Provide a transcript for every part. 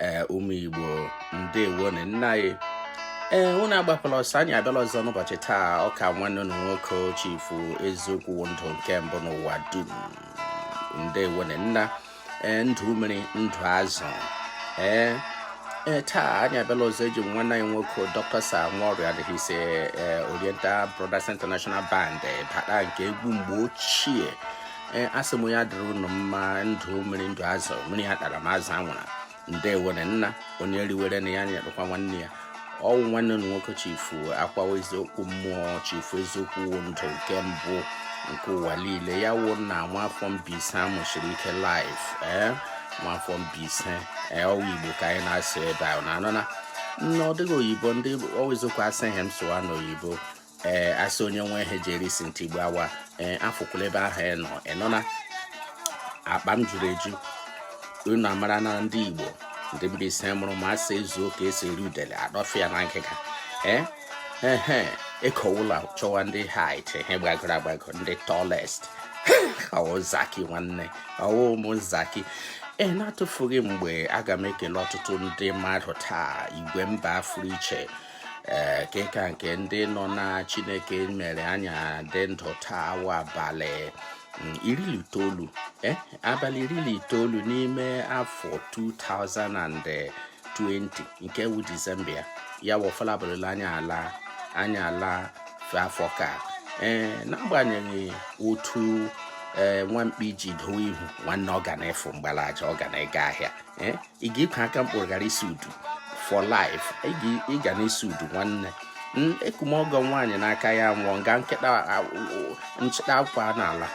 ee ụmụ igbo ndewo na nna anyị ee unu agbakwala ọsọ anyị abịala ọzọ n'ụbọchị taa ọkwa nwanne unu nwoke chifu eziokwu ndụ nke mbụ n'ụwa dum ndewo na nna ee ndụ mmiri ndụ azụ ee ee taa anyị abịala ọzọ eji nwanne anyị nwoke dr sir warrior and his oriental brothers international band bata nke egwu mgbe ochie ee asị m ya dịrị ụnụ mma ndụ mmiri ndụ azụ mmiri atara ma azụ anwụra ndewere nna onye riwere na ya nyerụkwa nwanne ya ọ wụ nwanne unu nwoke chifu akwawa eziokwu mmụọ chifu eziokwu wo ndụ nke mbụ nke ụwa niile ya wo na nwafọ Mbaise amụchiri ike live ee eh? nwafọ Mbaise ee eh, ọ wụ Igbo ka anyị na-asụ ebe ahụ unu nọ na nna ọ dịghị oyibo ndị ọwụzikwa asị ihe m sụwa n'oyibo ee asị onye nwe ihe ji eri si ntị gbawa ee afụkwala ebe ahụ ị nọ ị nọ na akpa m juru eju unu amara na ndị igbo ndị Mbaise mụrụ ma asị ezuo ka esi eri udele adọfịa na ngịga ee ehe ekowula chọwa ndị height ihe gbagoro agbago ndị tallest ọ wụ zaki nwanne ọ wụ ụmụ zaki e na-atụfughị mgbe aga m ekele ọtụtụ ndị mmadụ taa igwe mba afụrụ iche ee eh, kịka nke ndị nọ na chineke mere anyị adị ndụ taa wụ abalị mm, iri na itoolu eh, abalị iri na itoolu n'ime afọ 2020 nke wụ disemba ya ya wọfala bụrụla anya ala anya ala afọ ka ee eh, n'agbanyeghị otu ee nwa mkpi ji doo ihu nwanne ọ ga na-efu mgbalaja ọ ga na-ega ahịa eh, ị ga-ekwe aka mkpụrụ ghara isi udu for life ị ga na-esi udu nwanne hmm, ekwe m ọgọ nwaanyị n'aka ya nwụọ nga nke nchịda akwa n'ala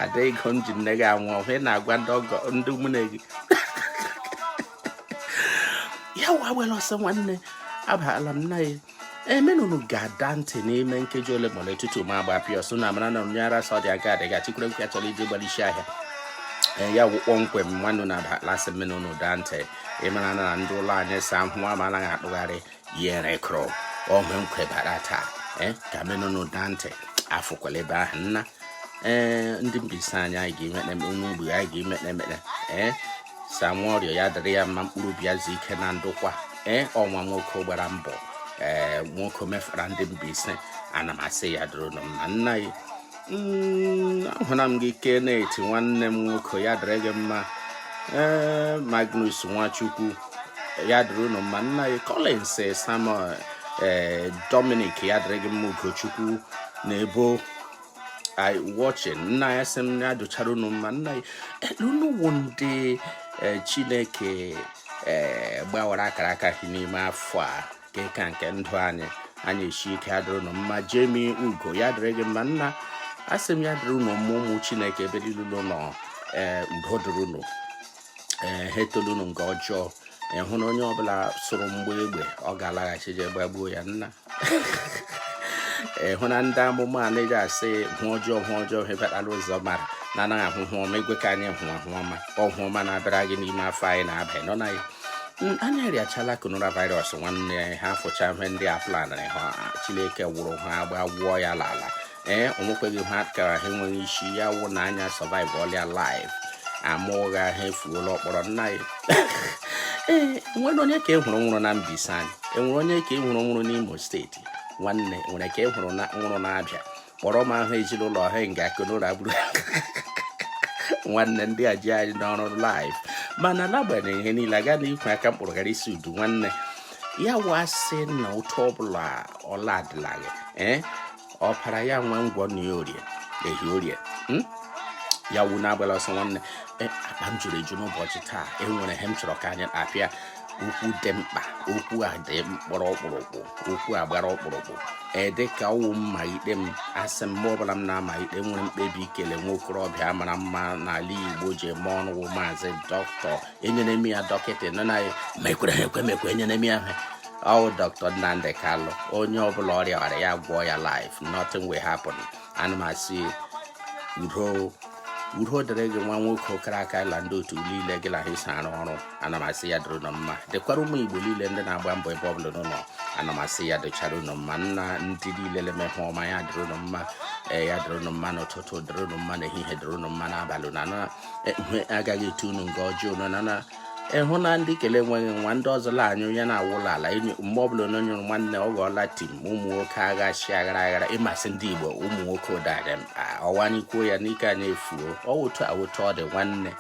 ada ego nji nne gị anwụ ọhụ ị na-agwa ndị ọgọ ndị ụmụnne gị ya wa were ọsọ nwanne abala m nna ya emenụnụ ga-ada ntị n'ime nkeji ole ma ole tutu ma agbapịa ọsọ na amara na onye ara sọ dị aga adịga chikwere nkwa chọrọ iji gbara isi ahịa e, ya wụ kpọmkwem nwanne na lasị menụnụ daa ntị ịmara na ndị ụlọ anyị sa ahụ ama anaghị akpụgharị yere kụrụ ọhụ nkwebara taa e, ka menụnụ daa ntị afụkwala ebe ahụ nna ee ndị Mbaise anyị anyị ga-eme onwe ogbe anyị ga-eme ekpere ee Sir Warrior ya dịrị ya mma mkpụrụ obi ya zuo ike na ndokwa ee ọnwa nwoke gbara mbọ ee nwoke mefara ndị Mbaise ana m asị ya dịrị unu mma nna ya mm, ahụla m gị Kenneth nwanne m nwoke ya dịrị gị mma ee Magnus Nwachukwu ya dịrị unu mma nna ya Collins Samuel ee Dominic ya dịrị gị mma Ugochukwu na ebo I watching nna asị m ya dịchara unu mma nna ya unu wụ ndị eh, chineke eh, gbawara akara aka gị n'ime afọ a ka ịka nke ndụ anyị anyị esi ike adịrị unu mma jemi ugo ya dịrị gị mma nna asị m ya dịrị unu mma ụmụ chineke ebe niile unu nọ ee eh, udo dịrị unu ee ha etolu unu nke ọjọọ ịhụ na onye ọbụla sụrụ mgbe egbe ọ ga-alaghachi je gbagbuo ya nna ịhụ na ndị amụma anaghị asị ọhụ ọjọọ ọhụ ọjọọ ha batara ụzọ mara na anaghị ahụ ọhụ ọma egwe ka anyị hụ ọhụ ọma ọhụ ọma na-abịara gị n'ime afọ anyị na-aba nọ na ya anyị arịachala coronavirus nwanne ha fụcha ihe ndị a planarị ha chineke wụrụ ha agba gwụọ ya n'ala ee onwekweghị ha kara ha enweghị isi ya wụ na anyị survive ọlịa life ama ụgha ha efuola ọkpọrọ nna ya ee nwere onye ka e hụrụ nwụrụ na Mbaise anyị enwere onye ka e hụrụ nwụrụ n'Imo steeti nwanne nwere ka e hụrụ nwụrụ n'Abia kpọrọ m aha ezinụlọ ha nga corona gburu nwanne ndị a ji anyị n'ọrụ life mana n'agbanyeghị ihe niile aga na ikwe aka mkpụrụ gara isi udu nwanne ya wụ sị na otu ọbụla ọla adịlaghị ee eh? ọpara ya nwe ngwọ na ya orie ehi orie hmm? ya wu na-agbala ọsọ nwanne e, akpa m juru eju n'ụbọchị taa enwere ihe m chọrọ ka anyị apịa okwu dị mkpa okwu a dị mkpọrọ ọkpụrụkpụ okwu a gbara ọkpụrụkpụ e dịka ọ wụ mmalite m asị mgbe ọbụla m na-amalite nwere mkpebi ikele nwa okorobịa mara mma n'ala Igbo ji eme ọnụ wụ maazị dọkịta enyere m ya dọkịta nọ na ma ekwere ha ekwe mekwe enyere m ya ha ọ wụ dọkịta Nnamdi Kanu onye ọbụla rịa ọrịa ya gwọọ ya life nothing will happen ana m asị udo udo dịrị gị nwa nwoke ọkara aka gị la ndị otu niile gị na ha isi arụ ọrụ ana m asị ya dịrị ụnụ mma dịkwara ụmụ igbo niile ndị na-agba mbọ ebe ọbụla ụnụ nọ ana m asị ya dịchara ụnụ mma nna ndị niile na-eme ihe ọma ya dịrị ụnụ mma ee ya dịrị ụnụ mma n'ụtụtụ dịrị ụnụ mma n'ehihie dịrị ụnụ mma n'abalị na enwe agaghị etu unu nga ọjọọ unu na na ịhụ na ndị kele enweghị nwa ndị ọzọ la anyụ ya na-awụla ala mgbe ọbụla onye nyụrụ nwanne ọ ghọọla tim ụmụ nwoke agha chi aghara aghara ị ma sị ndị igbo ụmụ nwoke ụdara ọ wụ anyị kwuo ya n'ike anyị efuo ọwụtụ awụtụ ọ dị nwanne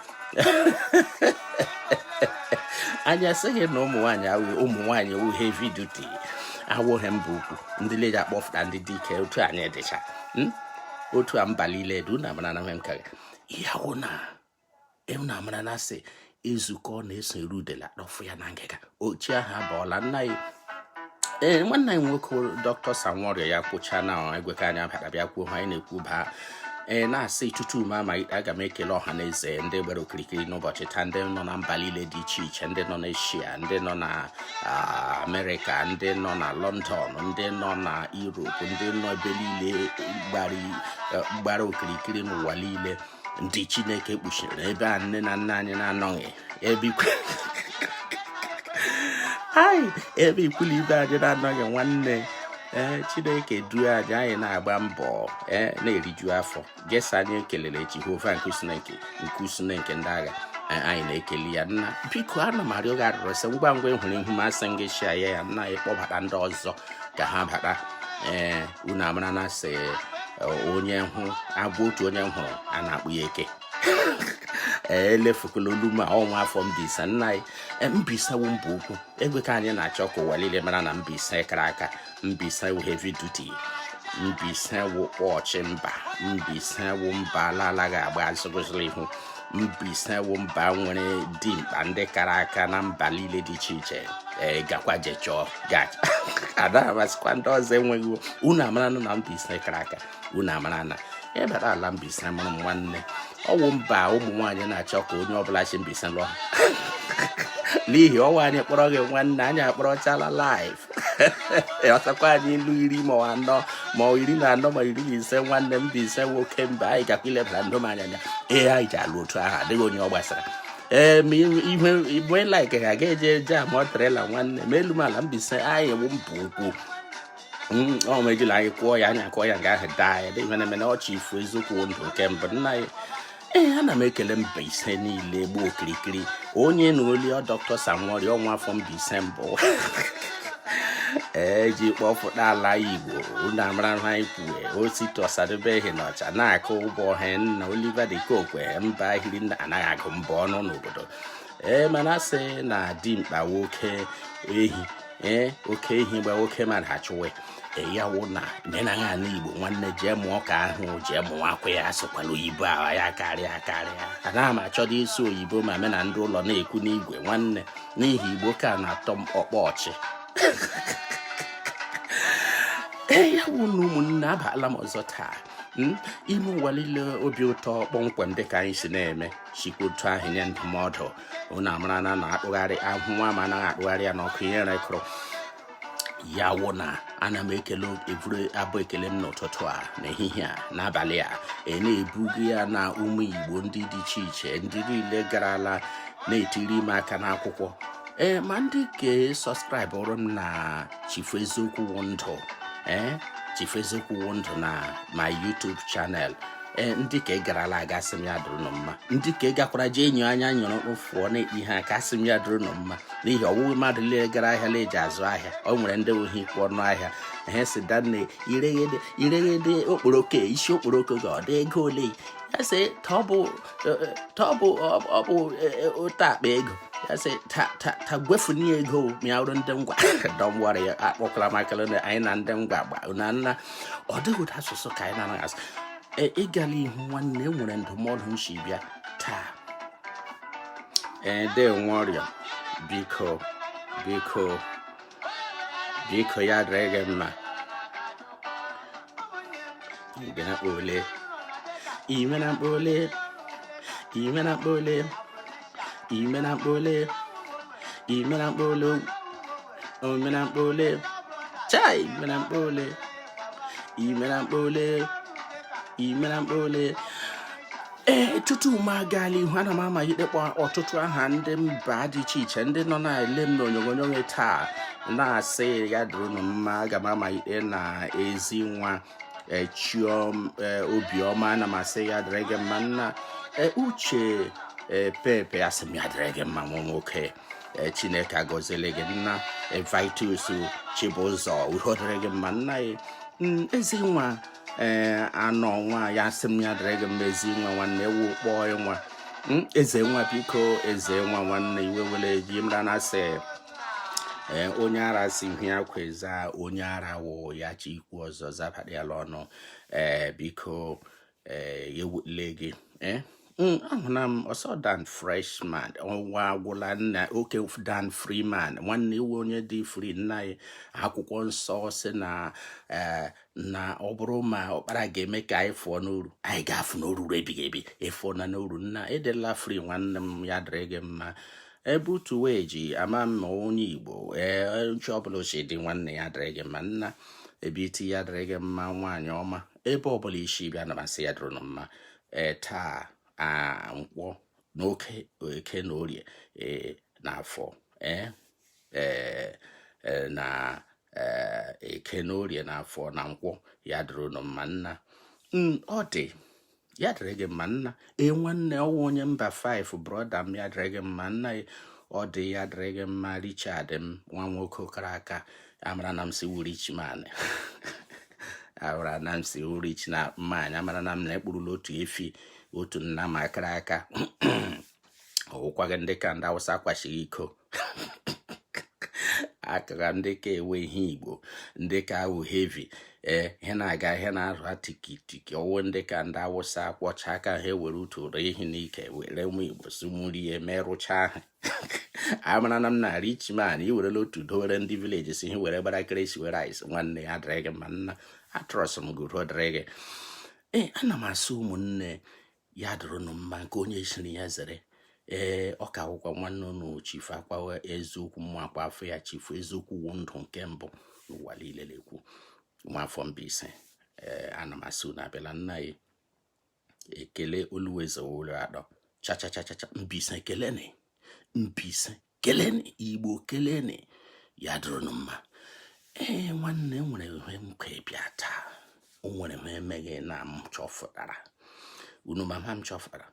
anyị asịghị na ụmụ nwaanyị awụghị ụmụ nwaanyị wụ heavy duty awụghị mba ukwu ndị leji akpọfụta ndị dike otu anyị dịcha hmm? otu a mba niile du na mara na nwe m ka ya wụ na ịhụ na amara na asị ezukọ na-eso eru udele adọfụ ya na ngịga ochie ahụ abụọla nna ya ee eh, nwanne anyị nwoke dọkịta sanworio ya kwụcha na egwe ka anyị bịara bịa kwuo ihe anyị na-ekwu baa ee eh, na-asị tutu m amalite aga m ekele ọha na eze ndị gbara okirikiri n'ụbọchị taa ndị nọ na mba niile dị iche iche ndị nọ n'Asia ndị nọ na amerịka ndị nọ na lọndọn ndị nọ na europe ndị nọ ebe niile gbara okirikiri n'ụwa niile ndị chineke kpuchiri ebe a nne na nna anyị na-anọghị ebe ikwu la ibe anyị na-anọghị nwanne ee eh, chineke duo anyị anyị na-agba mbọ ee eh, na-eriju afọ gesa anyị ekelere jehova nke usuu niile nke nke usuu niile nke ndị agha a- anyị na-ekele ya nna biko ana m arịọ gị arịrịọ sị ngwa ngwa ị hụrụ ihu m a sị gị share ya ya nna ya kpọbata ndị ọzọ ka ha bata ee unu amara na asị eh, onye hụ agwọ otu onye hụrụ a na-akpọ ya eke ee elefukula olu ma ọ nwa afọ mbaise nna anyị Eh, mbaise wụ mba ukwu egwe ka anyị na-achọ ka ụwa niile mara na mbaise kara aka mbaise wụ heavy duty mbaise wụ posh mba mbaise wụ mba la-alaghị agba azụ guzoro ihu mbaise wụ mba nwere dimkpa ndị kara aka na mba niile dị iche iche ee gakwa je chọọ gacha ada amasịkwa ndị ọzọ enweghị unu amara na mbaise kara aka unu amara na ịbata ala Mbaise mụrụ m nwanne ọ wụ mba ụmụ nwaanyị na-achọ ka onye ọbụla si Mbaise lụọ n'ihi ọ nwaanyị kpọrọ gị nwanne anyị akpọrọchala life ọtakwa anyị ilu iri ma anọ ma iri na anọ ma iri na ise nwanne mbaise nwoke mba anyị gakwa ilebara ndụ m anya ee anyị ji alụ otu ahụ adịghị onye ọ gbasara ee ma ihe igwe like ga-aga eje eje ama trela nwanne ma elu ma ala mbaise anyị wụ mba ukwu Mm, ọ ma ejila anyị kwụọ ya anya kụọ ya nga ahụ daa ya dịghị na emena ọ chifu eziokwu wụ ndụ nke mbụ nna ya ee ana m ekele mbaise niile gbaa okirikiri onye na oli ọ dọkịta sir warrior ọ nwa afọ mbaise mbụ e ji kpọpụta ala igbo unu amara ha ikwue osita osadebe na ọcha na-akụ ụbọ ọha nna oliver de coque mba ahịrị anaghị agụ mbọ ọnụ n'obodo ee mana a sị na dimkpa nwoke ehi ee oke ehi gbaa oke mmadụ achụwe ya wụ na menaghị ala igbo nwanne jee mụọ ka ahụ jee mụwakwa ya asụkwala oyibo ahụ ya karịa karịa anaghị m achọdo ịsụ oyibo ma mụ na ndị ụlọ na-ekwu n'igwe nwanne n'ihi igbo ka na-atọ m ọkpọ ọchị ya wụ na ụmụnne abịala m ọzọ taa Hmm? ime ụwa niile obi ụtọ kpọmkwem dịka anyị si na-eme sikwa otu ahụ nye ndụmọdụ unu amara na a na-akpụgharị ahụ nwa ma anaghị akpụgharị ya n'ọkụ ihe rekụrụ ya wụ na ana m ekele eburu abụ ekele m n'ụtụtụ a n'ehihie a n'abalị a e na-ebugo ya na ụmụ igbo ndị dị iche iche ndị niile garala na-etiri m aka n'akwụkwọ ee ma ndị ke sọskraịbụrụ m na chifu eziokwu wụ ndụ ee chifu eziokwu wụ ndụ na my YouTube channel ee ndị ke garala aga asị m ya dụrụ nụ mma ndị ke gakwara jee enyo anya nyụrụ ụfụọ na-ekpe ihe aka asị m ya dụrụ nụ mma n'ihi ọwụghị mmadụ niile gara ahịa na eji azụ ahịa ọ nwere ndị ohi ikwu ọnụ ahịa ha sị danne ireghede okporoko isi okporoko ga ọ dị ego ole ya sị ọ bụ ọ bụ otu akpa ego ya sị ta gwefuni ego ma ya wụrụ ndị ngwa dọm wara ya akpọkwala makala anyị na ndị ngwa gba na nna ọ dịghị ụdị asụsụ ka anyị na-anaghị asụ e, ịgala ihu nwanne e nwere ndụmọdụ m si bịa taa ede e, nwe ọrịa biko biko biko ya dịrị gị mma ime na mkpole ime na mkpole ime na mkpole ime na mkpole ime na mkpole chai ime na mkpole ime na mkpole ime na mkpole ee tutu m agaa l'ihu ana m amalite ịkpọ ọtụtụ aha ndị mba dị iche iche ndị nọ na-ele m n'onyonyo taa na-asị ya dịrịnụ mma aga m amalite na ezi nwa echiom e, obiọma ana m asị ya dịrị gị mma nna e, uche e, pepe asị m ya dịrị gị mma nwa nwoke chineke agọziele gị nna vitus chibụzọ udo dịrị gị mma nna ya mm, ezi nwa ee anọ nwa ya asị m ya dịrị gị mma ezi nwa nwanne ewu kpọọ nwa mm, eze nwa biko eze nwa nwanne iwe ewele gị mara na asị ee onye ara sị ihe ya kweza onye ara wụ ya chọ ikwu ọzọ zabara ya ọnụ ee biko ee ya ewule gị ee Mm, ahụla m ọsọ dan freshman ọnwa agwụla nna okay dan freeman nwanne ị wụ onye dị free nna ya akwụkwọ nsọ sị na eh, na ọ bụrụ ma ọkpara ga-eme ka anyị fụọ n'oru anyị ga-afụ n'oru ebighị ebi ị fụọna n'oru nna ị dịla free nwanne m ya dịrị gị mma ebe utu wee ji ama mma onye igbo ee uche ọbụla ochie dị nwanne ya dịrị gị mma nna ebe iti ya dịrị gị mma nwaanyị ọma ebe ọbụla i si bịa ana m asị ya dịrị mma ee taa a nkwọ n'eke eke na orie ee na afọ ee e, na eke na orie na afọ na nkwọ ya dịrị unu mma nna ọ dị ya dịrị gị mma nna ee nwanne ọwụ onye mba 5 brọda m ya dịrị gị mma nna ọ dị ya dịrị gị mma richard m nwa nwoke kara aka amara na m sị ị wụ rich man amara na m sị ị wụ rich na mmanya amara na m na ekpurula otu efi otu nna m akara aka ọwụkwaghị ndị ka ndị awụsa kwachiri iko akara ndị ka ewe ihe igbo ndị ka awụ hevi ee ihe na-aga ihe na-arụ tikitiki ọwụ ndị ka ndị awụsa kwọcha aka ha ewere utu ụdọ ehi n'ike were ụmụ igbo sumurie merụcha ha amara na m na rich man iwerela otu dowere ndị vileji si ihe were gbara keresi were rice nwanne ya dịrị gị mma nna atrọs m gụrụ dịrị gị ee ana m asị ụmụnne ya dụrụnụ mma nke onye chiri ya zere ee ọ ka wụkwa nwanne unu chifu akpawa eziokwu mma akpa afọ ya chifu eziokwu wụ ndụ nke mbụ n'ụwa niile na-ekwu nwafọ Mbaise ee ana m asị unu abịala nna ya ekele oluweze ụlọ atọ chachachachacha Mbaise keleni Mbaise keleni igbo keleni ya dụrụnụ mma ee nwanne nwere ihe m ka bịa taa o nwere ihe emeghe na m chọfụtara unu mama m chọfụtara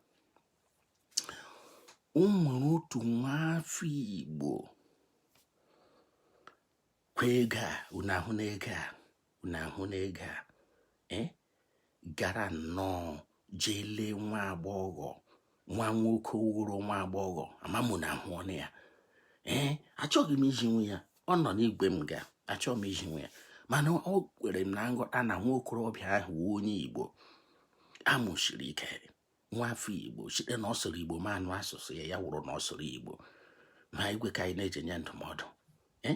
o nwere otu nwa afọ igbo kwa ego a unu ahụ na ego a unu ahụ na ego a ee eh? gara nnọọ jee lee nwa agbọghọ nwa nwoke wụrụ nwa agbọghọ ama m na ahụ ọnụ ya ee achọghị m iji nwe ya ọ nọ n'igwe m ga achọghị m iji nwe ya mana o kwere m na nghọta na nwa okorobịa ahụ wụ onye igbo amụsiri ike nwa afọ igbo site na ọ sụrụ igbo ma anụ asụsụ ya ya wụrụ na ọ sụrụ igbo ma igwe ka anyị na-eji nye ndụmọdụ ee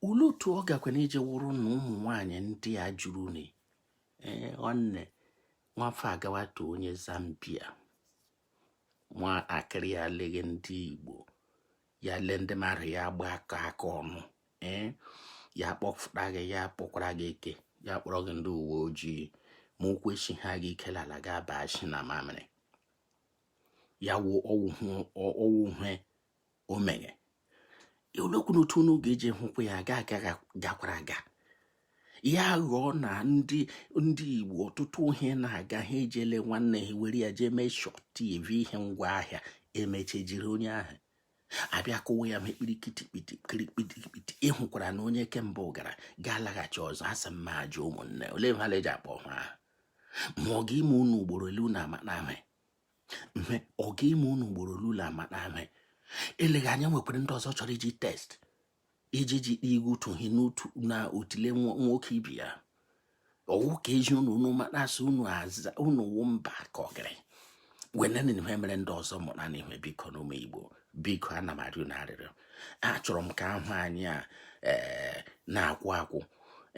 olee otu ọ gakwanị iji wụrụ na ụmụ nwaanyị ndị a juruni ee nwanne nwafọ agawata onye zambia nwa akịrị ya leghe ndị igbo ya lee ndị mara ya gba aka aka ọnụ ee ya kpọfụta gị ya kpọkwara gị ike ya kpọrọ gị ndị uwe ojii ma ụkwụ echi ha gị ike l'ala ga aba nshị na mamịrị ya wụ ọwụ ihe o meghe olekwanụ otu unu ga-eji hụkwa ya aga aga gakwara aga ya ghọọ na ndị ndị Igbo ọtụtụ ihe na-aga ha ejele nwanne ha were ya jee mee shọt tv ihe ngwa ahịa emeche jiri onye ahụ abịa kụwa ya mekpiri kitikpiti kirikpitikpiti ịhụkwara na onye kemgbe gara ga-alaghachi ọzọ asị m m jụọ ụmụnne ole ha eji akpọ ha ahụ ma ọ ga-ime unu ugboro ole unu ama na ihe ọ ga-eme unu ugboro ole unu amata ihe eleghị anya nwekwara ndị ọzọ chọrọ iji test iji ji kpee igu utu hi n'otu na otile nwoke ibe ya ọwụ ka eji unu unu ma na-asị unu aza unu wụ mba ka ọgịrị werenụ ihe mere ndị ọzọ mụrụnụ ihe bikonụ ụmụ igbo biko ana m arịọ na arịrịọ achọrọ m ka ahụ anyị a eh, na-akwụ akwụ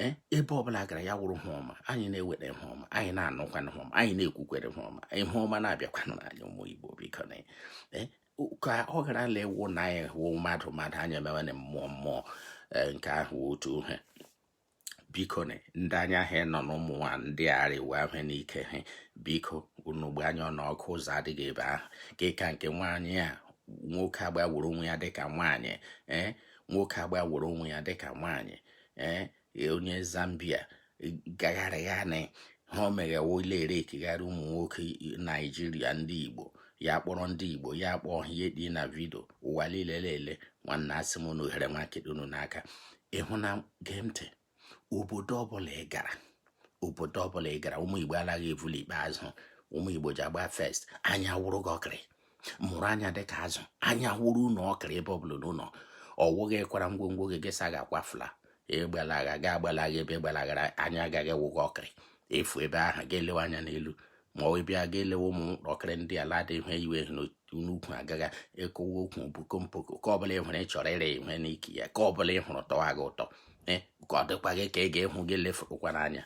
eh, ebe ọbụla gara ya wụrụ ihe ọma anyị na-ewere ihe ọma anyị na-anụkwana ihe ọma anyị na-ekwukwere ihe ọma ihe ọma na-abịakwanụ anyị ụmụ Igbo biko na eh, ka ọ gara ala ewu na anyị hụ mmadụ mmadụ anyị emewe na mmụọ mmụọ nke ahụ otu ihe biko na ndị anya ha nọ n'ụmụ nwa ndị arịwa ihe n'ike ha biko unu gbaa anya ọnụọkụ ụzọ adịghị ebe ahụ ka nke nwaanyị a nwoke gbanworo onwe ya dịka nwaanyị ee eh, nwoke gbanworo onwe ya dịka nwaanyị ee eh, onye Zambia gagharịgharị ha o meghewo ile ere ekegharị ụmụ nwoke Naijiria ndị Igbo ya kpọrọ ndị Igbo ya kpọọ ihe dị na vidio ụwa niile lele nwanna asị m na ohere nwa nkịta unu n'aka ịhụ na gee ntị obodo ọbụla ị gara obodo ọbụla ị gara ụmụ Igbo anaghị evuli ikpeazụ ụmụ Igbo ji agba first anya wụrụ gị ọkịrị mụrụ anya dịka azụ anya wụrụ unu ọkịrị ebe ọbụla unu nọ ọwụghị kwara ngwongwo gị ị sị a ga-akwafula ịgbalaga ga agbalaga ebe ị gbalagara anya agaghị awụ gị ọkịrị ị fụ ebe ahụ ị ga-elewe anya n'elu ma ọ bụ ị ga-elewe ụmụ ọkịrị ndị ala dị ihe iwe n'ukwu agaghị ekowe okwu bukompoko nke ọbụla ị hụrụ ị chọrọ ịrị ihe n'ike ya nke ọbụla ị hụrụ tọwa gị ụtọ eh, ka ọ dịkwa gị ka ị ga-ehụ gị lefụkwa n'anya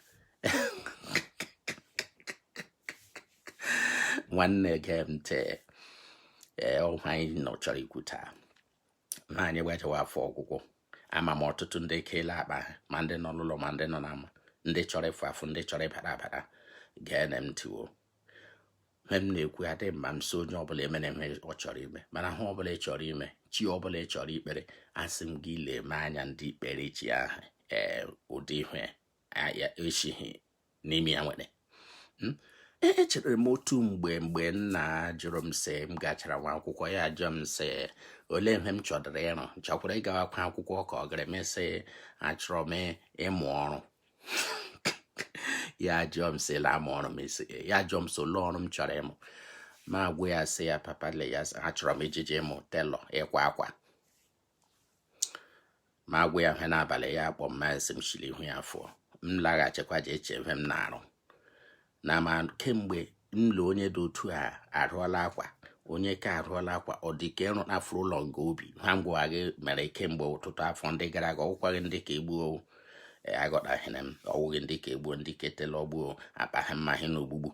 nwanne gee ntị ee eh, ihe anyị nọ chọrọ ikwu taa na anyị gbajawa afọ ọgwụgwụ ama m ọtụtụ ndị ekeela akpa ha ma ndị nọ n'ụlọ ma ndị nọ n'ama ndị chọrọ ịfụ afụ ndị chọrọ ịbata abata geenụ m ntị wo ihe m na-ekwu ya dị mma m sị onye ọbụla emere ihe ọ chọrọ ime mana ihe ọbụla ị chọrọ ime chi ọbụla ị chọrọ ikpere asị m gị lee m anya ndị ikpere chi ahụ ee ụdị ihe ya echighị n'ime ya nwere hmm? e, echere m otu mgbe mgbe nna jụrụ m sị m gachara nwa akwụkwọ ya jụọ m sị olee ihe m chọdụrụ ịrụ chọkwara ịgawakwa akwụkwọ ka ọ gara m sị achọrọ m ịmụ ọrụ ya jụọ m sị laa m ọrụ m isi ya jụọ m sị olee ọrụ m chọrọ ịmụ mụ agwa ya sị ya papa le ya achọrọ m ije ịmụ tailor ịkwa akwa mụ agwa ya ihe n'abalị ya akpọ m asị m shi l'ihu ya fụọ m laghachikwa je eche ihe m na-arụ na ma kemgbe m lụ onye dị otu a arụọla akwa onye ka arụọla akwa ọ dị ka ịrụ afụrụ ụlọ nke obi ha ngwa gị mere kemgbe ọtụtụ afọ ndị gara aga ọwụkwaghị dị ka ugbu a e, agọtaghịrị m ọwụghị dị ka ugbu a dị ka tailor ugbu a akpaghị mmaghị na ogbugbu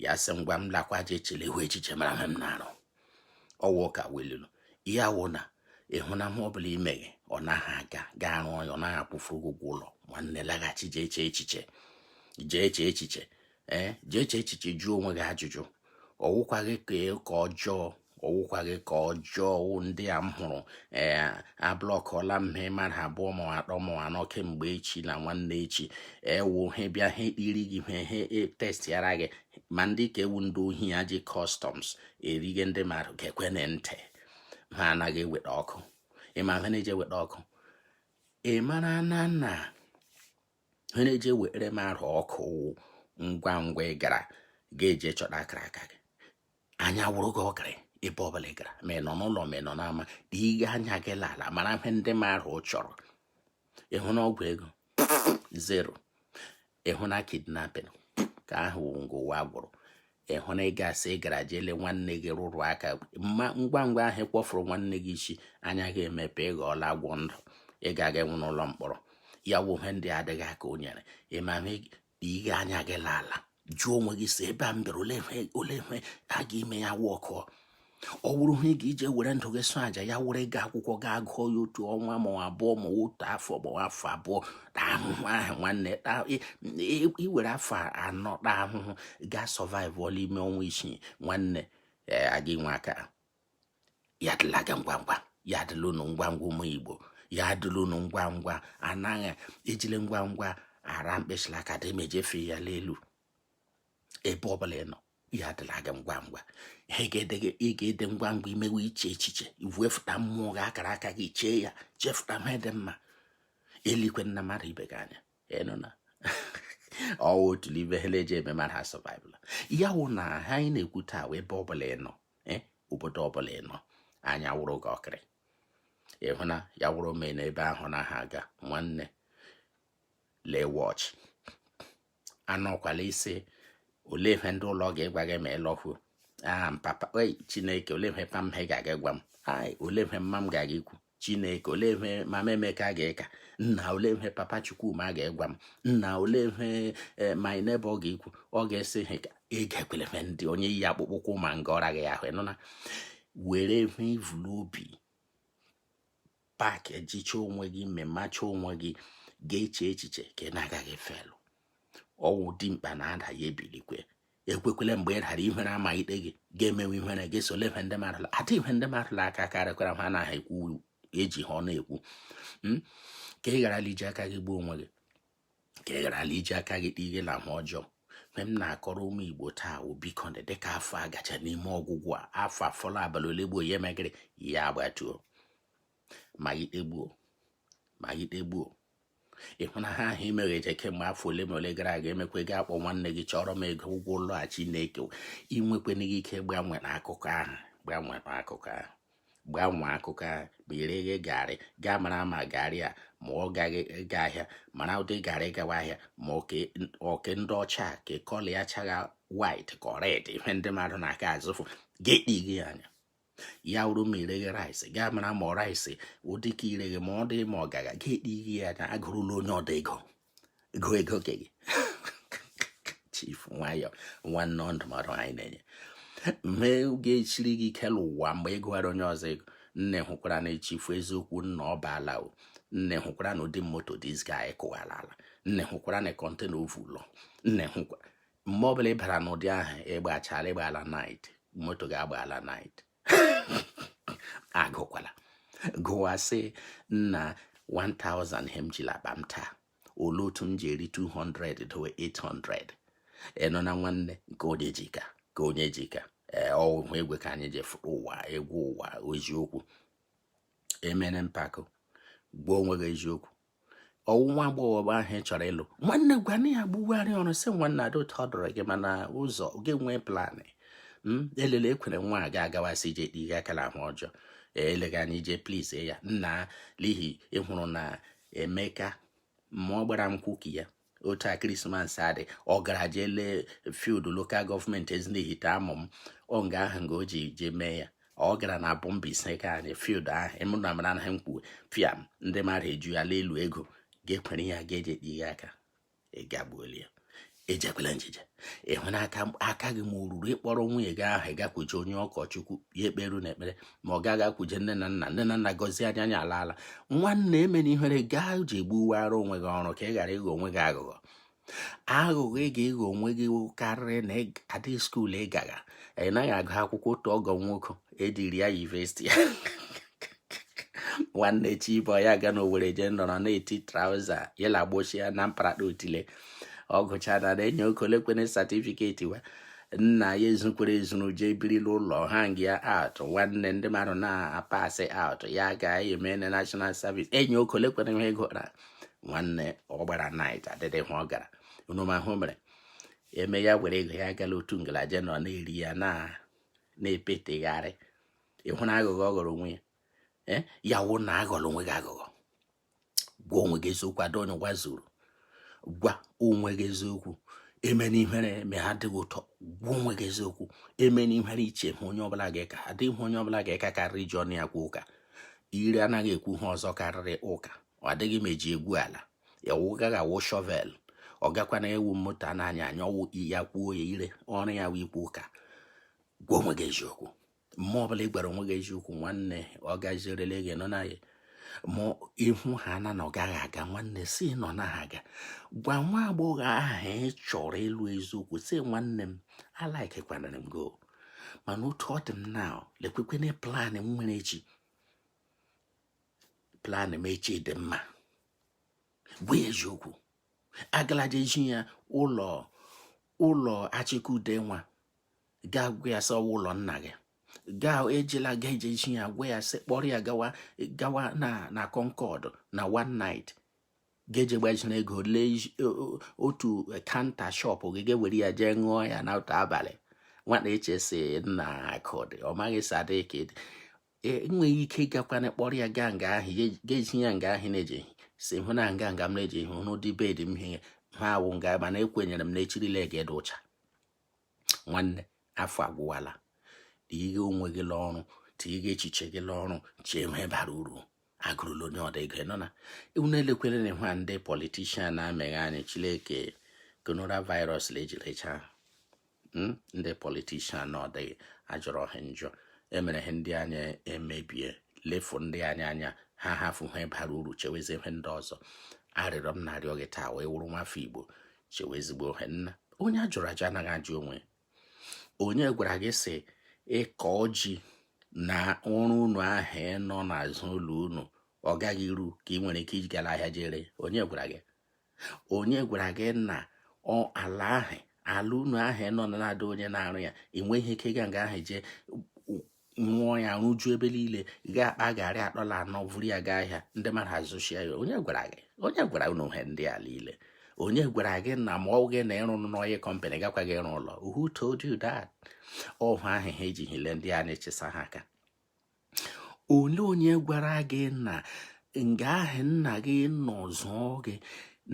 ya sị ngwa m lakwa je echele ihu echiche mara m na-arụ ọ wụ ka weluru ya wụ na ị hụ na ihe ọbụla i meghe ọ naghị aga gaa rụọ ya ọ naghị akwụfụ ụgwọ ụlọ nwanne laghachi jee chee echiche jee chee echiche ee jee chee echiche jụọ onwe gị ajụjụ ọ wụkwaghị aka ọjọọ ọ wụkwaghị aka ọjọọ ndị a m hụrụ ee ablọkọla m ha mmadụ abụọ ma atọ ma anọ kemgbe echi na nwanne echi ewu ha bịa ha ekpiri gị ihe ha e, testịara gị ma ndị ka ewu ndị ohi a ji customs erighe ndị mmadụ geekwene ntị ha anaghị eweta ọkụ ị ma ha na-eji eweta ọkụ ị mara na na ha na-eji ewere mmadụ ọkụ ngwa ngwa ị gara ga-eje chọta akara aka gị anya wụrụ gị ọkịrị ebe ọbụla ị gara ma ị nọ n'ụlọ ma ị nọ n'ama dị ihe anya gị l'ala mara ihe ndị mmadụ chọrọ ị hụ na ọgwụ ego zero ị hụ na kidnapping ka ahụ ngụ ụwa gwụrụ ị hụ na ị gasị ị gara jele nwanne gị rụrụ aka ngwa ngwa ahụ kpọfụrụ nwanne gị isi anya gị emepe ị ghọọla agwọ ndụ ị ga-aga ịnwụ n'ụlọ mkpọrọ ya wụ ihe ndị adịghị aka o nyere ịma ihe anya gị n'ala jụọ onwe gị si ebe a m bịara ole ihe ole ihe a ga-ime ya wụ okwu ọ wụrụ ihe ị ga-eji ewere ndụ gị sụ aja ya wụrụ gị akwụkwọ gaa gụọ ya otu ọnwa ma ọ abụọ ma otu afọ ma ọ afọ abụọ taa ahụhụ ahụ nwanne taa ị- ị- ị were afọ anọ taa ahụhụ gaa sọvaịvụọ la ime ọnwa isii nwanne ee aga inwe aka ya adịla gị ngwa ngwa ya adịla unu ngwa ngwa ụmụ igbo ya adịla unu ngwa ngwa anaghị ejile ngwa ngwa ara mkpịsịla aka dị mejefe ya n'elu ebe ọ bụla ị nọ ya adịla gị ngwa ngwa ihe ga-adị ngwa ngwa ime wụ iche echiche iwefụta mmụọ gị akara aka gị chee ya chefụta ihe dị mma elekwena mmadụ ibe gị anya ị nụna ọ wụ otu n'ibe ha na-eji eme mara ha sọvaịvụla ya wụ na ihe anyị na-ekwu taa wee ebe ọ bụla ị nọ eh, obodo ọbụla ị nọ anya wụrụ gị ọkịrị ị hụ na ya wụrụ o mee na ebe ahụ anaghị aga nwanne laghachi anọkwala ị si olee ihe ndị ụlọ ga-egwa gị ma ị lọhuo aha papa ei chineke olee ihe pa m he ga-aga gwa m ai olee ihe mma m ga-aga ikwu chineke olee ihe mama emeka ga-eka nna olee ihe papa chukwuma ga-egwa m nna olee ihe eh, my neighbor ga-ekwu ọ ga-esi ha ị ga-ekwele ihe ndị onye yi akpụkpọ ụkwụ ma nga ọra gị ahụ ị nụna were ihe i vu l'obi pak ejicha onwe gị memacha onwe gị gaa chee echiche ka ị na-agaghị felụ ọ wụ dimkpa na-ada ya ebilikwe ekwekwele mgbe ị dara ihere ama ikpe gị ga-emewe ihere gị sole ihe ndị mmadụ la adị ihe ndị mmadụ la aka karịkwara ha anaghị ekwu eji ha ọnụ ekwu hmm? ka ị gharala iji aka gị gbuo onwe gị ka ị gharala iji aka gị kpee ihe na ahụ ọjọọ ihe m na-akọrọ ụmụ igbo taa wụ biko dị dịka afọ a gaje n'ime ọgwụgwụ a afọ afọla abalị ole gboo ya emegịrị ya agbatuo ma gị tegbuo ma gị tegbuo ị hụ na ahịa ahụ ị meghe eje kemgbe afọ ole ma ole gara aga emekwe gị akpọ nwanne gị chọrọ m ego ụgwọ ụlọ a chineke i nwekwenaghị ike gbanwee akụkọ ahụ gbanwee akụkọ ahụ gbanwee akụkọ ahụ ma ị reghe garị gaa mara ma garị a ma ọ gaghị ịga ahịa mara ụdị garị gawa ahịa ma ọ ke ndị ọcha ka kọlọ ya chagha white ka red ihe ndị mmadụ na-aka azụfụ ga-ekpighi anya ya wụrụ ma ị reghe rice gaa mara ma rice ụdị ke ị reghe ma ọ dị ma ọ gagha ga ekpighi ya anya agụrụla onye ọdọ ego ego ego ke gị chief nwayọ nwanne ndụmọdụ anyị na-enye mee ọ ga-echiri gị ke elu ụwa mgbe ị gụghara onye ọzọ ego nna ị hụkwara na chief eziokwu nna ọ baala o nna ị hụkwara na ụdị moto dis guy kụwara ala nna ị hụkwara na kọntena o vu lọ nna ị hụkwara mgbe ọbụla ị bara n'ụdị ahụ ị gbachala ị gba ala night moto ga-agba ala night agụkwala gụwa sị nna 1000 ihe m ji la akpa m taa olee otu m ji eri 200 dowe 800 ị nụna nwanne nke onye ji ka ke onye ji ka ee ọhụhụ egwe ka anyị ji fụrụ ụwa egwu ụwa eziokwu emene mpako gbuo onwe gị eziokwu ọ wụ nwa agbọghọ ahụ ị chọrọ ịlụ nwanne gwana ya gbugharị ọrụ sị nwanne ada ụtọ ọ dọrọ gị mana ụzọ gị nwee plan hmm, elele ekwere nwa a ga-agawasị ije kpe ihe aka la ahụ ọjọọ eleghị anya ije plis ya nna n'ihi ị hụrụ na emeka ma ọ gbara nkwụ ke ya otu a krismas adị ọ gara jee lee field lokal gọọmenti ezinihite amụ m ọ nga ahụ nga o ji jee mee ya ọ gara na abọh mbaise ka anyị field ahụ emụna mara anaghị m kwuwe pịa ndị mmadụ eju ya elu ego ga-ekwere ya ga-eji ekpe ihe aka ị gagbuola ya ejekwela njije ị hụ na aka gị ma oruru ị kpọrọ nwunye gị ahụ gakwuje onye ụkọchukwu ya ekperu unu ekpere ma ọ gị agakwuje nne na nna nne na nna gọzie anyị anyị alaala nwanne emena ihere gaa ji gbuwara onwe gị ọrụ ka ị ghara ịghọ onwe gị aghụghọ aghụghọ ị ga-aghọ onwe gị karịrị na adị skuul ị gagha ị naghị agụ akwụkwọ otu ọgọ nwoke ediri ya yunivesiti ya nwanne chi bọọ ya aga na owere jee nọrọ na-eti trauza yela gbochie na mparata otile ọ gụcha na na-enye okolekwene certificate wa nna ya ezukwere ezuru jee birila ụlọ hang ya out nwanne ndị mmadụ na-apass out ya ga-eme na national service enye okolekwene ha ego na nwanne ọ gbara night adịghị hụ ọ gara unu ma hụ mere eme ya were ego ya gala otu nga laje nọ na-eri ya na na-epetegharị ị hụna aghụghọ ọ ghọrọ onwe ya eh, ya wụ na aghọla onwe gị aghụghọ gwa onwe gị eziokwu adịghị onye ụwa zuru gwa onwe gị eziokwu emena ihere ma ha adịghị ụtọ gwa onwe gị eziokwu emena ihere iche hụ onye ọbụla ga-eka adịghị hụ onye ọbụla ga-eka karịrị iji ọnụ ya gwa ụka ire anaghị ekwu ha ọzọ karịrị ụka ọ dịghị m eji egwu ala ọ gaghị awụ shovel ọ gakwana awụ moto a na-anya anya ọ wụ ya kwuo ya ire ọrụ ya wụ ikwu ụka gwa onwe gị eziokwu mme ọ bụla ị gwara onwe gị eziokwu nwanne ọ gazirele gị nọ na ya ma ị hụ ha na na ọ gaghị aga nwanne si nọ na ha aga gwa nwa agbọghọ ahụ ị chọrọ ịlụ eziokwu sị nwanne m alikekwana m gị o mana otu ọ dị m na lekwekwene plan m nwere echi plan m echi dị mma gwa ya eziokwu agala jee zi ya ụlọ Achike Udenwa gaa gwa ya sị ọ wụ ụlọ nna gị gaa ejela ga eje chi ya gwa ya sị kpọrọ ya gawa gawa na na Concord na one night ga-eje gbaziri ego lee otu counter shop gị ga-ewere ya jee ṅụọ ya na otu abalị nwata echesi na akụ dị ọ maghị sadịka i nweghị ike ịgakwana kpọrọ ya gaa nga ahụ ga-eji ya nga ahụ na-eji si hụ na nga nga m na-eji hụ n'ụdị bed m ihe ha awụ nga mana ekwenyere m na echirila ga-adị ụcha nwanne afọ agwụwala tighe onwe gị n'ọrụ tighe echiche gị n'ọrụ chee ihe bara uru agụrụla onye ọda ego nọ na unu elekwere na ihe ndị politician na-emeghe anyị chileke coronavirus la ejirichaa hmm? ndị politician na ọ dịghị ajọrọ ha njọ emere ha ndị anya emebie lefu ndị anya anya ha ahafụ he bara uru chewezi ihe ndị ọzọ arịrịọ m na-arịọ gị taa wụ ị wụrụ nwafọ igbo chewe ezigbo ihe nna onye a jụrụ ajụ anaghị ajụ onwe ya onye gwara gị sị ị kọọ ji na ọrụ unu ahụ nọ n'azụ ụlọ unu ọ gaghị iru ka ị nwere ike iji gara ahịa jee ree onye gwara gị onye gwara gị na ala ahụ ala unu ahụ nọ na adịghị onye na-arụ ya ị nweghị ike ịga nga ahụ jee rụọ ya rụjuo ebe niile ga akpa garị atọ la anọ vụrụ ya gaa ahịa ndị mmadụ azụchaa ya onye gwara gị onye gwara unu he ndị a niile onye gwara gị na ma ọghị na ị rụ n'oil company ị gakwaghị ịrụ ụlọ who told you that ọhụ ahụ ha eji hile ndị a na-echesa ha aka onye onye gwara gị na nga ahụ nna gị nọ zụọ gị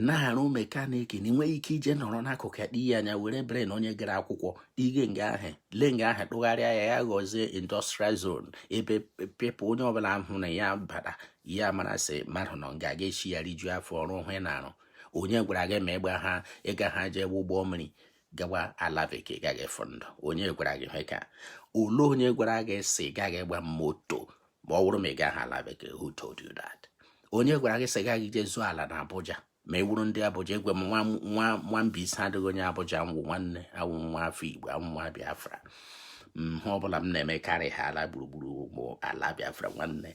na-arụ mekaniki na ị nweghị ike ije nọrọ n'akụkụ ya tii ya anya were brain onye gara akwụkwọ ige nga ahụ le nga ahụ tụgharịa ya ya ghọzie industrial zone ebe pepụ onye ọbụla hụna ya bara ya mara sị mmadụ nọ nga ga echi ya rijuo afọ ọrụ ahụ ị na-arụ onye gwara gị ma ị gbaha ị gaha jee ụgbọ mmiri gawa ala bekee ị gaghị ịfụ ndụ onye gwara gị ihe ka ole onye gwara gị sị ị gaghị ịgba moto ma ọ bụrụ ma ị gaghị ala bekee who told you that onye gwara gị sị ị gaghị ije zụọ ala na Abuja ma ị wụrụ ndị Abuja awụ m nwa Mbaise ọ dịghị onye Abuja m wụ nwanne awụ m nwa afọ Igbo awụ m nwa Biafra ihe ọbụla m na-eme karị ha ala gburugburu ụmụ ala Biafra nwanne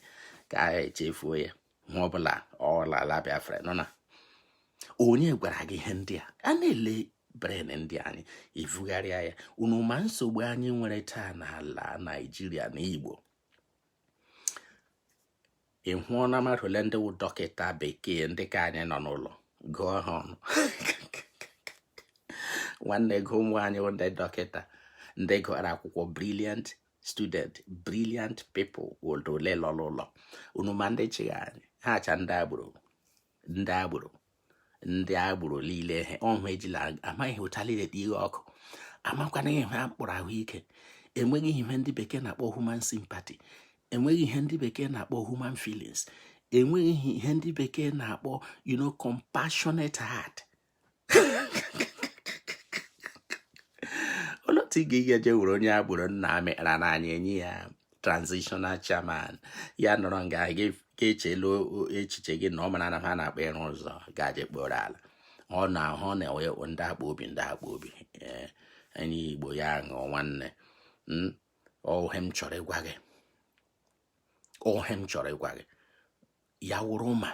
ka a echefuo ya ihe ọbụla ọla ala Biafra nọ na onye gwara gị ihe ndị a a na-ele brain ndị anyị evugharịa ya unu ma nsogbu anyị nwere taa n'ala Naijiria na Igbo ị hụna mmadụ ole ndị wụ dọkịta bekee ndị ka anyị nọ n'ụlọ gụọ ha ọnụ nwanne gụọ ụmụ anyị ndị dọkịta ndị gụrụ akwụkwọ brilliant student brilliant people ọ dị ole lọrọ ụlọ unu ma ndị chịga anyị ha acha ndị agboro ndị agboro ndị agboro niile ihe ọhụ ejila amaghị ụcha niile dị iwe ọkụ amakwana ihe ha mkpụrụ ahụike enweghị ihe ndị bekee na-akpọ human sympathy enweghị ihe ndị bekee na-akpọ human feelings enweghị ihe ndị bekee na-akpọ you know compassionate heart otu ị ga-eji eje were onye agboro na-amị kpara n'anya enye ya transitional chairman ya nọrọ nga ga-echelu echiche gị na ọ mara na ha na-akpa ịrụ ụzọ gaje kporo ala ọ na-ahụ na enwe ndị akpa obi ndị akpa obi eh, enye igbo ya ṅụọ nwanne hmm? ọ ihe m chọrọ ịgwa gị ọ ihe m chọrọ ịgwa gị ya wụrụ ma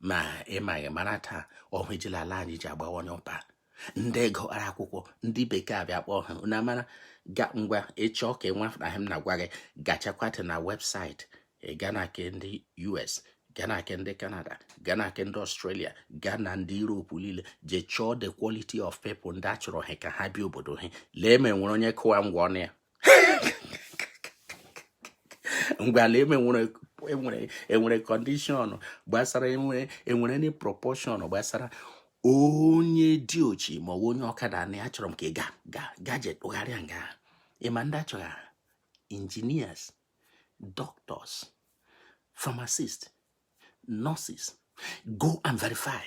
ma ị maghị mara taa ọ ihe e jila ala anyị ji agbawanye ọba ndị gụara akwụkwọ ndị bekee abịa kpọọ ha na mara ga ngwa ị chọọ ka ị nwafụna m na-agwa gị gachakwata na website gaa na ke ndị US gaa na nke ndị Canada gaa na nke ndị Australia gaa na ndị Europe niile jee chọọ the quality of people ndị a chọrọ ha ka ha bịa obodo ha lee ma enwere onye kụwa ngwa ọnụ ya ngwa lee ma enwere enwere enwere condition gbasara enwere enwere any proportion gbasara onye diochi ma ọ bụ onye ọkada na ya chọrọ m ka ị ga ga gaje tụgharịa nga ị ma ndị a chọga engineers doctors pharmacist nurses go and verify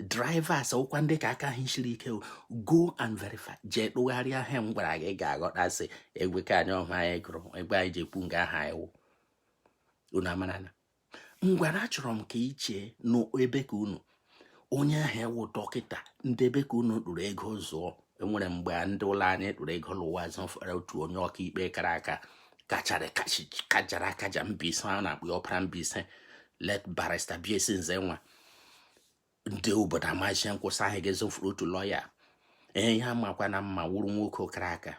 drivers ọkwa ndị ka aka ha shiri ike go and verify jee tụgharịa ihe m gwara gị ga-aghọta sị egwe ka anyị ọhụ anyị gụrụ egbe anyị ji ekwu nga aha iwu unu amarana ngwara achọrọ m ka i chee n'ebe ka unu onye ahụ wụ dọkịta ndị ebe ka unu tụrụ ego zụọ e nwere mgbe ndị ụlọ anyị tụrụ ego lụwa zụfere otu onye ọkaikpe kara aka kachara kajara akaja mbaise a na-akpọ ọpara mbaise late barrister bsc nzenwa ndị obodo amazie nkwụsị ahụ gị zụfuru otu lọya ee ya makwa na mma wụrụ nwoke kara aka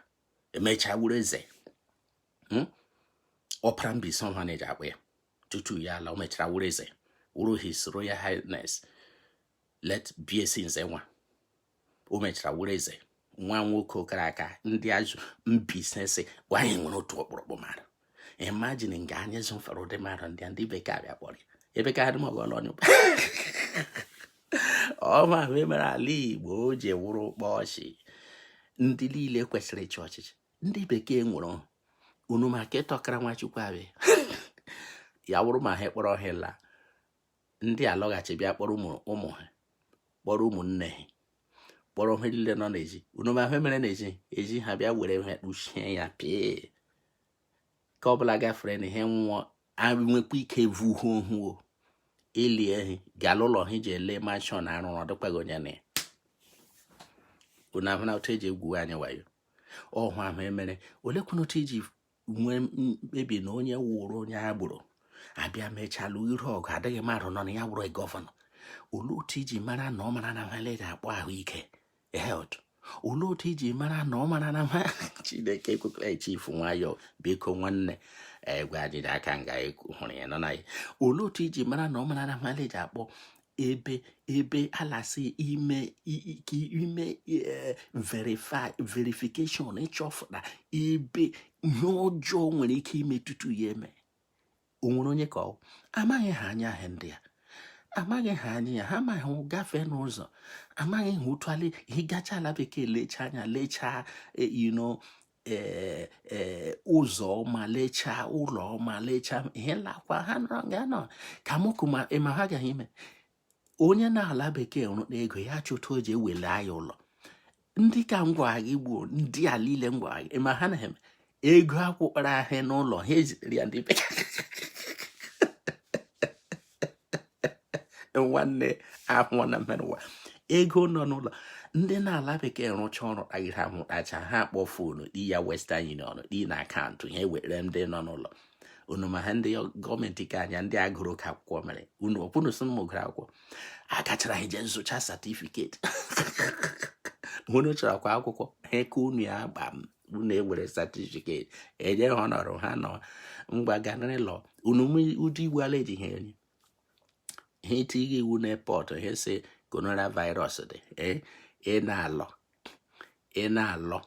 mechaa wụrụ eze hmm? ọpara mbaise ọha na-eji akpọ ya tutu ya ala o mechara wụrụ eze wụrụ his royal highness late bsc nzenwa o mechara wụrụ eze nwa nwoke kara aka ndị azụ mbaise sị anyị nwere otu ọkpụrụkpụ mmadụ imagine nga anyị zụfere ụdị mmadụ ndị a ndị bekee abịa kpọrọ ya ebe ka adị mọgọ ọlọnyụ ọma mere ala igbo o ji wụrụ ụkpọ ọchị ndị niile kwesịrị ịchị ọchịchị ndị bekee ewere unu maka ịtọkara nwachukwu abịa ya wụrụ ma ha kpọrọ ha la ndị alọghachi bịa kpọrọ ụmụ ha kpọrọ ụmụnne ha kpọrọ ha niile nọ n'ezi unu ma ihe mere n'ezi ha bịa were ha kpuchie ya pịa ka ọ bụla gafere na ihe nwụọ nwekwa ike vu ha ohuo elie ha gala ụlọ ha jee lee mansion a rụrụ ọ dịkwaghị onye nọ ya unu ahụna otu e ji egwu anyị wayo ọhụ ahụ mere olee kwanụ otu i ji nwee mkpebi na onye wụrụ onye agboro abịa mechalụ iru ọgụ adịghị mmadụ nọ na ya wụrụ gọvanọ olee otu i ji mara na ọ mara na nwale ga-akpọ ahụike health olee otu i ji mara na ọ mara na nwa chineke ekwekọrọ echifu nwayọ biko nwanne egwe ajịja aka nga e hụrụ ya nọ na ya olee otu i ji mara na ọ mara na nwale ji akpọ ebe ebe alasị ime ka ime e, verify verification ịchọfụta ebe ihe ọjọọ nwere ike ime tutu ya eme o nwere onye ka ọ amaghị ha anya ahụ ndị a amaghị ha anya ya ha amaghị gafee n'ụzọ amaghị ha ụtụali ị gachaa ala bekee lechaa anya lechaa e, ino ee ee ụzọ ọma lechaa ụlọ ọma lechaa ihe lakwa ha nọrọ nga nọ ka mụkụ ma ịma ha gaghị ime onye nọ ala bekee rụta ego ya chụta o ji ewele anyị ụlọ ndị ka ngwa gị gbuo ndị a niile ngwa gị ị ma ha na-eme ego akwakọrọ ahịa n'ụlọ ha ezitere ya ndị bekee nwanne ahụ na mmerụ ụwa ego nọ n'ụlọ ndị n'ala bekee rụcha ọrụ kpaghịrị ahụ kpacha ha akpọ fonu di ya western union di na akaụntụ ha ewere ndị nọ n'ụlọ unu ma ha ndị gọọmenti ka anya ndị agụrụ ka akwụkwọ mere unu ọ kwa unu sị m gụrụ akwụkwọ agachara ha jee zụcha satifiketi unu chọrọ kwa akwụkwọ ha eke unu ya gbam unu ewere satifiket enye ha ọnọrọ ha nọ ngwa ganrịlọ unu ụdị iwu ala eji ha enye ha etie gị iwu n'epọtụ ha sị coronavirus dị eh, ị na-alọ ị na-alọ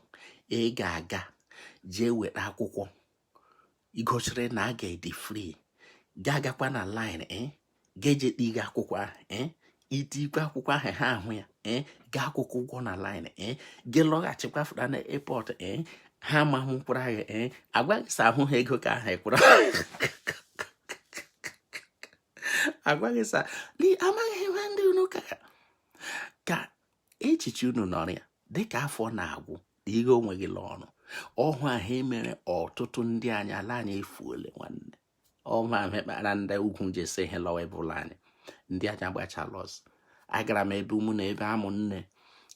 ị ga-aga jee weta akwụkwọ igosiri na ị ga-adị free ga agakwa na line eh? ga-eje kpe gị akwụkwọ ahụ eh? ị tikwe akwụkwọ ahụ ha ahụ ya eh? gaa kwụkwa ụgwọ na line gị lọghachikwa fụta na airport ha amahụ mkpụrụ ahụ agwa gị sị ahụ ha ego ka ahụ ị kwụrụ agwa gị sị amaghị ha ndị unu ka ka echiche unu nọrọ ya dịka afọ na-agwụ na ihe onwe gị ọrụ ọ wụ ihe mere ọtụtụ ndị anyị ala anyị efuole nwanne ọ wụ ihe kpara ndị ugwu ji esi ihe lọwa ebe ụlọ anyị ndị anyị agbachala ọsọ agara m ebe ụmụ na ebe amụ nne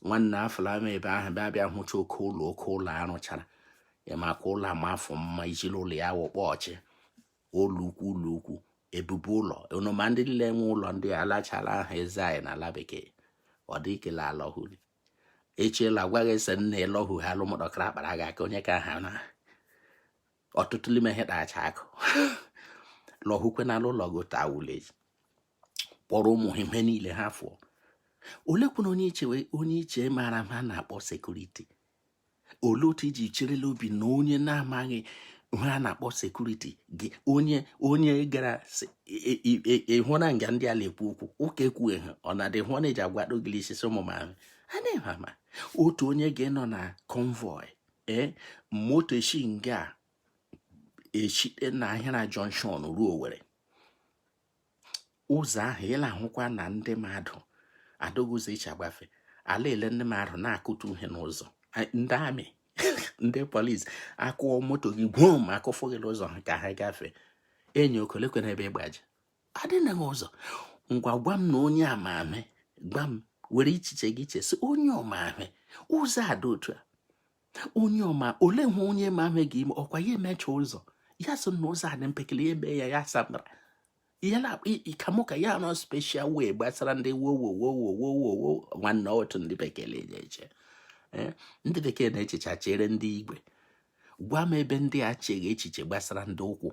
nwanne afụla m ebe ahụ bịa bịa hụcha oke ụlọ oke ụlọ arụchara ya maka ụlọ ama afọ mma ijiri ụlọ ya wụ kpọchi ụlọ ukwu ụlọ ukwu ebube ụlọ ọma ndị niile nwe ụlọ ndị a alachala ha eze anyị n'ala bekee ọ dị ikele alọhuli echiela agwa gị sị na alọhụ ha alụmụdọkara akpara gị aka onye ka ha na ọtụtụ n'ime ha dacha akụ lọhukwe n'ala ụlọ gị taa village kpọrọ ụmụ ha ihe niile ha fụọ oleekwanụ onye i che onye i che maara ihe a na-akpọ sekuriti olee otu i ji chere l'obi na onye na-amaghị ihe a na-akpọ sekuriti gị onye onye gara ịhụra nga ndị a na-ekwu okwu ụka ekwughị ha ọ na-adị hụ na eji agwa dogili isisi ụmụ m ahụ a na-eme ama otu onye ga-enọ na konvoi ee eh, moto eshi nga eshite na Ahịara jọnshọn ruo Owerri ụzọ ahụ ị la-ahụkwa na ndị mmadụ adịghị ụzọ e shi agafe a la-ele ndị mmadụ na-akụtu ihe n'ụzọ ndị ami ndị polis akụọ moto gị gwom akụfụ gị n'ụzọ ha ka ha gafee enyi okolekwe n'ebe ị gbaje adịnaghị ụzọ ngwa gwa m na onye ma ihe gwa m were echiche gị chee sị onye ma ihe ụzọ adị otu a onye ma ihe olee ihe onye ma ihe ga-eme ọ kwa ya emecha ụzọ ya sị na ụzọ a dị mpekele ya eme ya ya saa mbara ka mụ ka ya nọ special way gbasara ndị wowowowowowowo nwanne otu ndị bekee na-eche eche eh, ndị bekee na-echecha chere ndị igwe gwa m ebe ndị a echeghị echiche gbasara ndị ụkwụ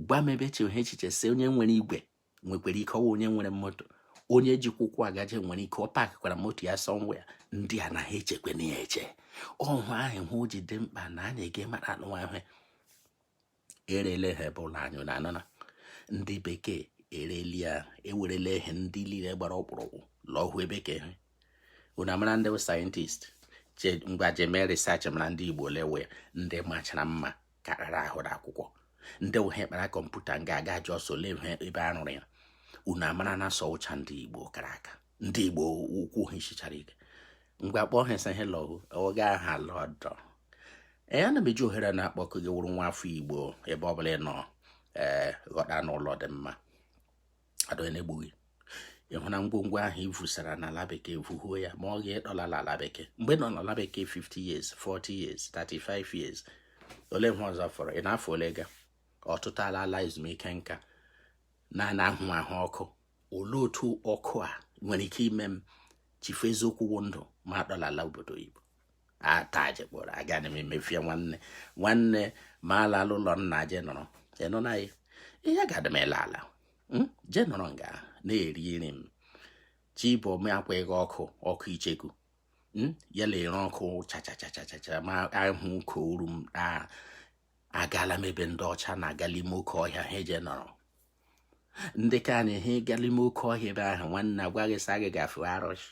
gwa m ebe echeghị echiche sị onye nwere igwe nwekwara ike ọ wụ onye nwere moto onye jikwa ụkwụ agaje nwere ike ọ pakịkwara moto ya somewhere ndị a na ha echekwa na ya eche ọhụ ahụ hụ ji dị mkpa na anyị ga-amara anụnwa ahụ erele ha ebe ụlọ anyị na anana ndị bekee ereli ya ewerele ihe ndị niile gbara ọkpụrụkpụ lọhụ ebe ka ihe unu amara ndị sayentist ngwa jemee research mara ndị igbo lawa ndị machara mma kara ahụ na akwụkwọ ndị ụhe kpara kọmputa nga aga ji ọsọ lee ebe a rụrụ ya unu amara na asọ ụcha ndị igbo kara aka ndị igbo ụkwụ ha sichara ike mgbe a kpọ ha sị ha lọgụ oge aha lọdọ ee ana m eji ohere na-akpọkụ gị wụrụ nwa afọ igbo ebe ọ bụla ị nọ ee ghọta na ụlọ dị mma adịghị onye egbu gị ịhụ na ngwongwo ahụ i vusara n'ala bekee vuhuo ya ma ọ gị ịdọla n'ala bekee mgbe ị nọ n'ala bekee 50 years 40 years 35 years ole ihe ọzọ fọrọ ị nọ afọ ole ga ọtụtụ ala ala ezumike nka na-ana ahụ ahụ ọkụ olee otu ọkụ a nwere ike ime m chefuo eziokwu wụ ndụ m adọlala obodo oyibo ataje kpọrọ aga na emefie nwanne nwanne m alaa ụlọ nna je nọrọ n'ime ya ihe ga-adị m ele ala hmm? je nọrọ nga na-eri nri m chi bọọ m akwa ịga ọkụ ọkụ icheku hmm? ya na-ere ọkụ chachachachachacha m ahụ ọka ọhụrụ m agala m ebe ndị ọcha na-agala ime oke ọhịa ha eje nọrọ ndị ka anyị ha gala ime oke ọhịa ebe ahụ nwanne a gwa gị sị gị gafe arụsị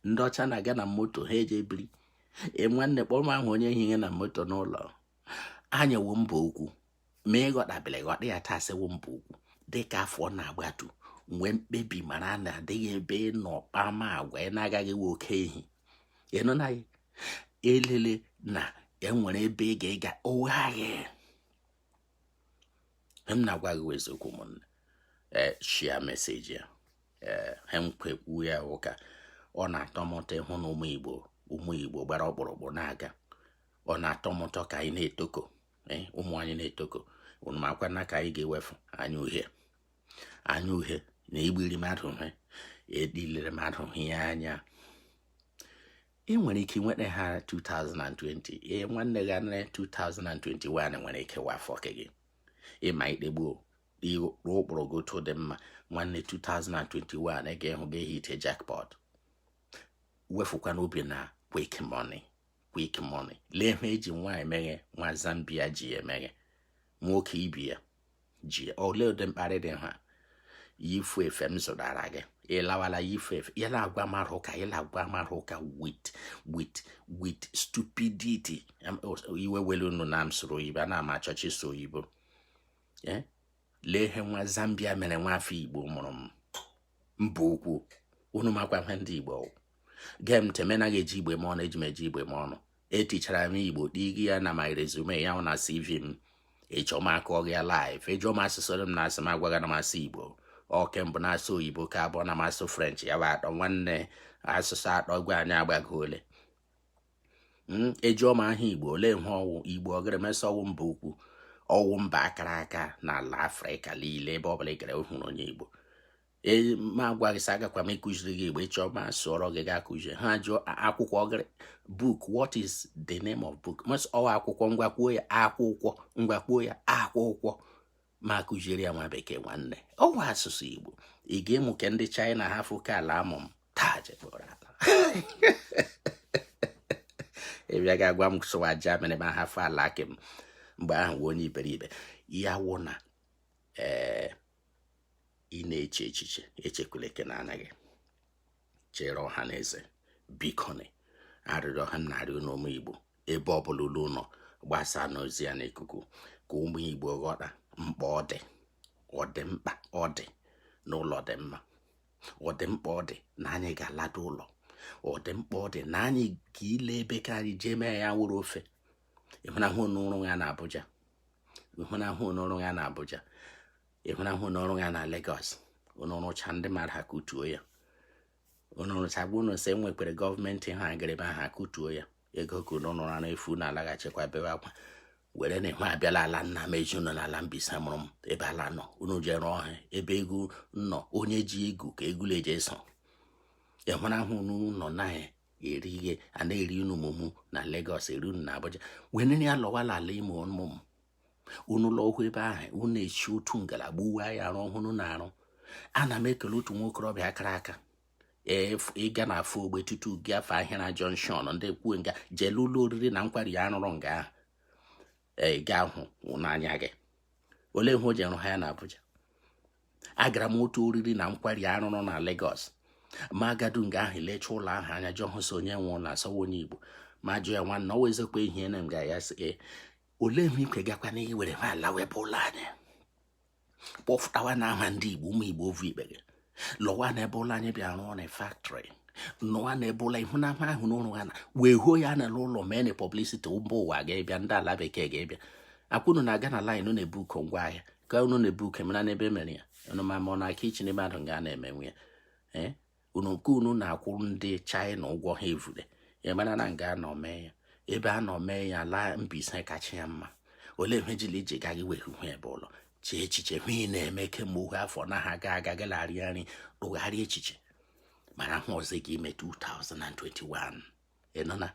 ndị ọcha na-aga na moto ha eje biri e, nwanne kpọrọ m ahụ onye ehihie na moto n'ụlọ anyị wụ mba ukwu ma ị ghọtabeghị ghọta ya taa sị ọ wụ mba ukwu dịka afọ na-agbatu mee mkpebi mara na adịghị ebe nọ kpama agwa ị na-agaghị we oke ehi ịnọ na ya elele na enwere ebe ị ga-aga oghe m na-agwa gị eziokwu ụmụnne ee eh, share message a ee eh, ha m kwukwuo ya ụka ọ na-atọ m ụtọ ịhụ na ụmụ igbo ụmụ igbo gbara ọkpụrụkpụ na-aga ọ na-atọ m ụtọ ka anyị na-etoko eh, ụmụ anyị na-etoko unu makwa na ka anyị ga-ewefu anya uhie anya uhie na igbiri mmadụ ihe edilere mmadụ ihe anya ị nwere ike nweta ha 2020 ee nwanne gị anara 2021 nwere ike wụ afọ gị ịma ikpegbuo ịkpụrụ ụkpụrụ gị otu dị mma nwanne 2021 ị ga-ahụ gị hitie jackpot wefukwanụ obi na quick money quick money lee ihe eji nwaanyị meghe nwa Zambia ji ya emeghe nwoke ibi ya ji olee ụdị mkparị dị ha yifu efe m zụtara gị ị lawala yifu efe ya na-agwa mara ụka ya na-agwa mara ụka with with with stupidity iwe ewela unu na m sụrụ oyibo anaghị m achọcha ịsụ oyibo eh? lee ihe nwa zambia mere nwa afọ igbo mụrụ m mba ukwu unu makwa ihe ndị igbo gee m ntị mee na ị ga-eji igbo eme ọnụ eji m eji igbo eme ọnụ etichara m igbo digi ya na my resume ya na cv m ị chọọ m akọọ gị ya live ị jụọ m asụsụ m na-asụ m agwa gị na m asụ igbo nke mbụ na-asụ oyibo ke abụọ na m asụ french ya bụ atọ nwanne asụsụ atọ gwa anyị agbago ole hmm, a jụọ m aha igbo olee ihe ọ wụ igbo agara m asị ọ wụ mba ukwu ọ wụ mba kara aka n'ala afrịka niile ebe ọ bụla ị gara hụrụ onye igbo ee m agwa gị sị agakwa m ịkụziri gị igbo ị chọọ ma sụọrọ gị gaa kụzie ha jụọ akwụkwọ gịrị book what is the name of book m asị ọ wụ akwụkwọ ngwa kwuo ya akwụkwọ ngwa kwuo ya akwụkwọ ma kụziere ya nwa bekee nwanne ọ wụ asụsụ igbo ị ga-amụ ke ndị china hafụ ke ala amụ m taa jekpọrọ ala ị bịa ga-agwa m sụwa germany ma hafụ ala ke m mgbe ahụ wee onye iberibe ya wụ na ee eh, ị na-eche echiche echekwala ke na anaghị chere ọha na eze bikonị arịrịọ ahụ m na-arịọ unu ụmụ igbo ebe ọbụla unu nọ gbasaanụ ozi a n'ikuku ka ụmụ igbo ghọta mkpa ọ dị ọ dị mkpa ọ dị na ụlọ dị mma ọ dị mkpa ọ dị na anyị ga-aladu ụlọ ọ dị mkpa ọ dị na anyị ga ile ebe ka anyị jee mee ya wụrụ ofe ịhụnahụ unu rụọ ya na Abuja ịhụnahụ unu rụọ ya na Abuja ịhụnahụ unu rụọ ya na Lagos unu rụchaa ndị mmadụ akụtuo ya unu rụchaa gwa unu sị enwekwere gọọmenti ha agịrịba ha kụtuo ya ego ke unu ara efu na-alaghachikwa bebe akwa were na ihu abịala ala nna m eji unu n'ala Mbaise mụrụ m ebe ala nọ unu jee rụọ ihe ebe egwu nọ onye ji ego ka egwula eji eso ịhụnahụ n'ụlọ naghị eri ihe a na-eri unu mụmụ na Lagos eri unu na Abuja were ya lọwala ala ime ụmụ m unu lọhụ ebe ahụ unu echi otu ngalaba uwe anyị arụ ọhụrụ na-arụ ana m ekele otu nwa okorobịa kara aka ị gaa na Afọ Ogbe tutu gị afụ Ahịara junction ndị kwue nga jee lee ụlọ oriri na nkwari ya a rụrụ nga ahụ ị ga-ahụ n'anya gị olee ihe o ji rụhụ ya na Abuja agara m otu oriri na nkwari a rụrụ na Lagos ma agadu nga ahụ lecha ụlọ ahụ anya jụọ hụ sị onye nwe ụlọ a sị ọ wụ onye Igbo ma jụọ ya nwanne ọ wụ eziokwu ihe na m ga ya sị olee ihe ikwe gakwa na iwere ya lawa ebe ụlọ anyị kpọfụtawanụ aha ndị igbo ụmụ igbo ovu ikpere lọwanụ ebe ụlọ anyị bịa rụọnụ factory nọwa na ebe ụlọ ihu na ama ahụ n'ụlọ ha na wee huo ya na ụlọ meenụ publicity mba ụwa ga-ebịa ndị ala bekee ga-ebịa akwụnụ na-aga na line na-ebukọ ngwa ahịa ka unu na-ebukọ mara n'ebe e mere ya unu ma ma ọ na kitchen mmadụ nga na-emenwe ya ee eh? unu nke unu na-akwụrụ ndị China ụgwọ ha evule ya mara na nga a nọ mee ya ebe a nọ mee ya ala Mbaise kacha ya mma olee ihe jili iji gaghị wee hụ ebe ụlọ chee echiche hụ ị na-eme kemgbe ohu afọ na ha ga aga gị larịa nri rụgharịa echiche mara hụ ọzọ gị ime 2021 ịnọ na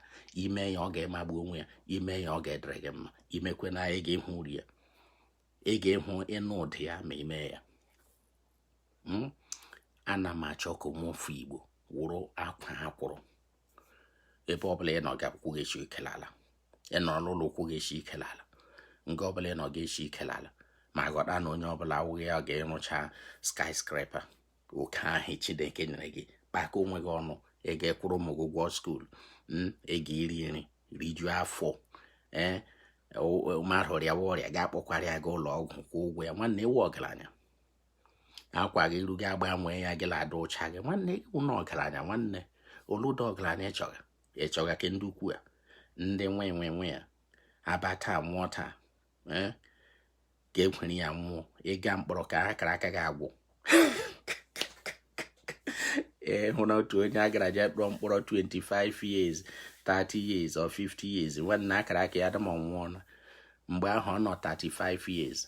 ime ya ọ ga-emagbu onwe ya ime ya ọ ga-adịrị gị mma imekwe na ị ga-ehụ uru ya ị ga-ehụ ịnụ ụdị ya ma ime ya hmm? ana m achọ ka ụmụ afọ igbo wụrụ akwaa akwụrụ ebe ọbụla ị nọ gị ụkwụ ga-eshi ike l'ala ị nọrọ n'ụlọ ụkwụ ga-eshi ike l'ala nga ọbụla ị nọ ga-eshi ike l'ala ma ghọta na onye ọbụla awụghị ya ga-ịrụcha skyscraper oke ahụ chineke nyere gị kpaka onwe gị ọnụ ị ga-ekwụrụ ụmụ gị ụgwọ school ị ga-iri nri rijuo afọ ee mmadụ rịawa ọrịa gị akpọkwara ya gaa ụlọ ọgwụ kwụọ ụgwọ ya nwanne ị wụ ọgaranya akwa gị ruo gị agbanwee ya gị la-adị ụcha gị nwanne ị wụna ọgaranya nwanne oluda ọgaranya ịchọga ịchọga ke ndị ukwu a ndị nwe nwe nwe ya abata nwụọ taa ka ekwere ya nwụọ ịga mkpọrọ ka akara aka gị agwụ ee hụ na otu onye a gara je tụọ mkpọrọ 25 years 30 years or 50 years nwanne akara aka ya dum wụ na mgbe ahụ ọ nọ 35 years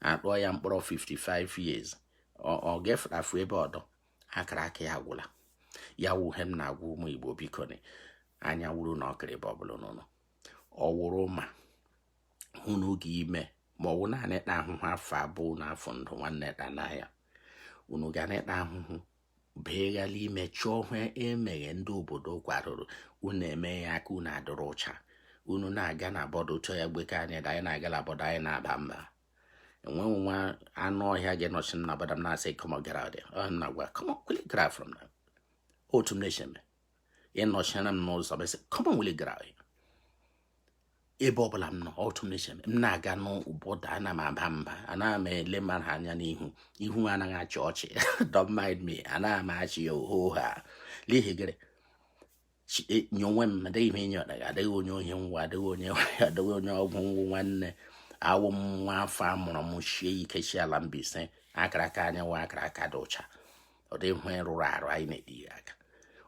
atụọ ya mkpọrọ 55 years ọ gefụtafu ebe ọdọ akara aka ya agwụla ya wụ he m na-agwa ụmụ Igbo biko anya wuru na ọkịrị ebe ọbụla unu nọ ọ wụrụ ma hụ unu ga-ime ma ọ wụ naanị ịta ahụhụ afọ abụọ na afọ ndụ nwanne taanụ ya unu ga na-ịta ahụhụ beghala ime chọọ hụ emeghe ndị obodo kwadoro unu eme ya aka unu adịrị ụcha unu na-aga na border chọọ ya gbeke anyị da anyị na-aga na border anyị na-aba mba enweghị nwa anụ ọhịa ga-enọchi m na border m na-asị come on get out there ọ na gwa come on will you get out from there otu m na-eche eme ịnọchiere m n'ụzọ m sị come on will you get out ebe ọbụla m nọ otu m na m na-aga na border ana m aba mba ana m ele mmadụ anya n'ihu ihu anaghị achị ọchị don't mind me ana m achị ya ohoha n'ihi gịnị e, nye onwe m adịghị m enyi ọdaga adịghị onye ohi ngwa adịghị onye adịghị onye ọgwụ ngwụ nwanne awụ m nwa afọ a mụrụ m shie ike shi ala Mbaise akara aka anyị wụ akara aka dị ụcha ọ dị ihe rụrụ arụ anyị na-edi ya aka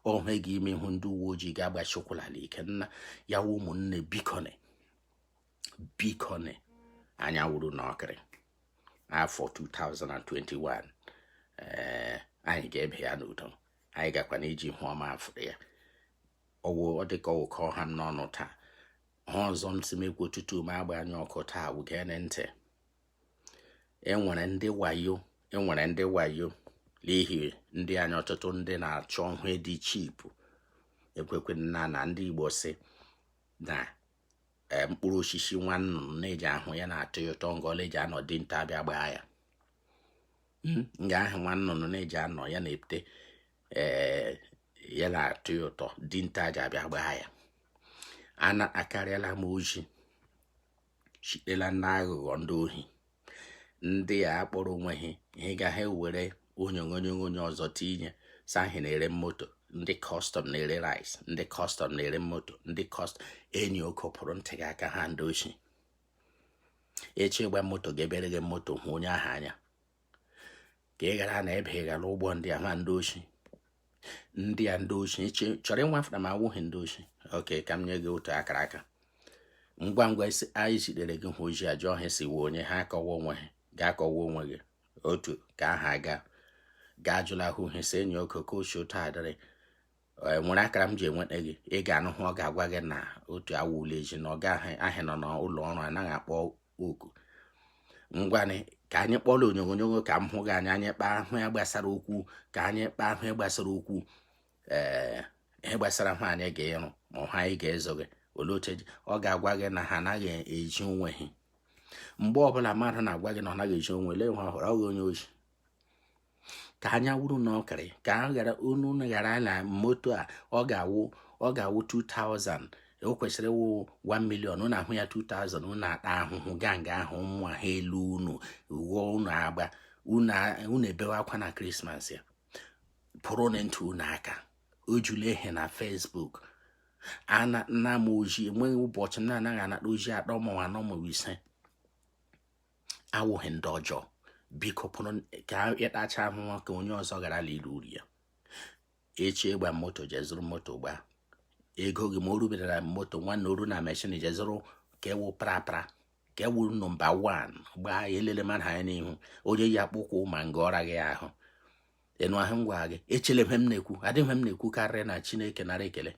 ohe gị ime ihu ndị uwe ojii gị agbashi ụkwụ n'ala ike nna ya wụ ụmụnne bikone bikone anya wuru unu ọkịrị afọ 2021 ee anyị ga-ebe ya n'udo anyị gakwa na iji ihu ọma afụrụ ya ọwụ ọ dịka ọ wụ ka ọ ha m n'ọnụ taa ihe ọzọ m sị m ekwu tutu m agba anya ọkụ taa wụ geenụ ntị enwere ndị wayo enwere ndị wayo n'ihi ndị anyị ọtụtụ ndị na-achọ ihe dị cheap ekwekwe na na ndị Igbo si na e, mkpụrụ osisi nwa nnụnụ na-eji ahụ ya na-atọ ya ụtọ nga ọ la-eji anọ dinta abịa gbaa ya hmm, nga ahụ nwa nnụnụ na-eji anọ ya na-epute e, ya na-atọ ya ụtọ dinta ji abịa gbaa ya anakarịala m ozi shite la ndị aghụghọ ndị ohi ndị a akpọrọ onwe ha ihe ga ha ewere onyonyo onye ọzọ tinye sị ha na-ere moto ndị custom na-ere rice ndị custom na-ere moto ndị custom enyi oko pụrụ ntị gị aka ha ndị oshi ị shị ịgba moto gaa ebe e rege moto hụ onye ahụ anya ka ị ghara na ebe ị gara ụgbọ ndị a nwa ndị oshi ndị a ndị oshi ị chọrọ ịnwa afọ na ma awụghị ndị oshi okay ka m nye gị otu akara aka ngwa ngwa isi anyị zitere gị ozi jụọ ha sị ị wụ onye ha akọwa onwe ha gị akọwa onwe gị otu ka aha aga gaa jụla ahụ ihe si enyi oko oke ochie otu adịrị e, nwere akara m ji enweta gị ị ga-anụ hụ ọ ga-agwa gị na otu awụla eji na ọ ga ahịa nọ n'ụlọ ọrụ anaghị akpọ oku ngwanụ ka anyị kpọọ la onyonyo ka m hụ gị anya anyị kpaa ihe gbasara okwu ka anyị kpaa ihe gbasara okwu ee eh, ihe gbasara ihe anyị ga-ịrụ ma ọha anyị ga-ịzụ gị olee oche ọ ga-agwa gị na ha anaghị ezi onwe ha mgbe ọbụla mmadụ na-agwa gị na ọ naghị ezi onwe lee nwa ọhụrụ ọ gị onye oshi ka anya wuru unu ọkịrị ka a ghara unu ghara ala moto a ọ ga-awụ ọ ga-awụ 2000 o kwesịrị ịwụ 1 million unu ahụ ya 2000 unu ata ahụhụ gaa nga ahụ ụmụ ha elu unu ghọọ unu agba unu ebewe akwa na krismas a pụrụnụ ntị unu aka o jula ehe na Facebook ana m ozi enweghị ụbọchị m na-anaghị anata ozi atọ ma anọ ma ise awụghị ndị ọjọọ biko pụrụ ka ị tachaa ahụhụ ka onye ọzọ ghara la iri uru ya ị shị ịgba moto jee zụrụ moto gbaa ego gị ma o rubere na moto nwanne o ru na machine jee zụrụ ke wụ prapra ke wụ number one gbaa ya elele mmadụ anya n'ihu onye yi akpụ ụkwụ ma nga ọra gị ahụ ịnụ ahụ ngwa gị echele ihe m na-ekwu adịghị ihe m na-ekwu karịa na chineke nara ekele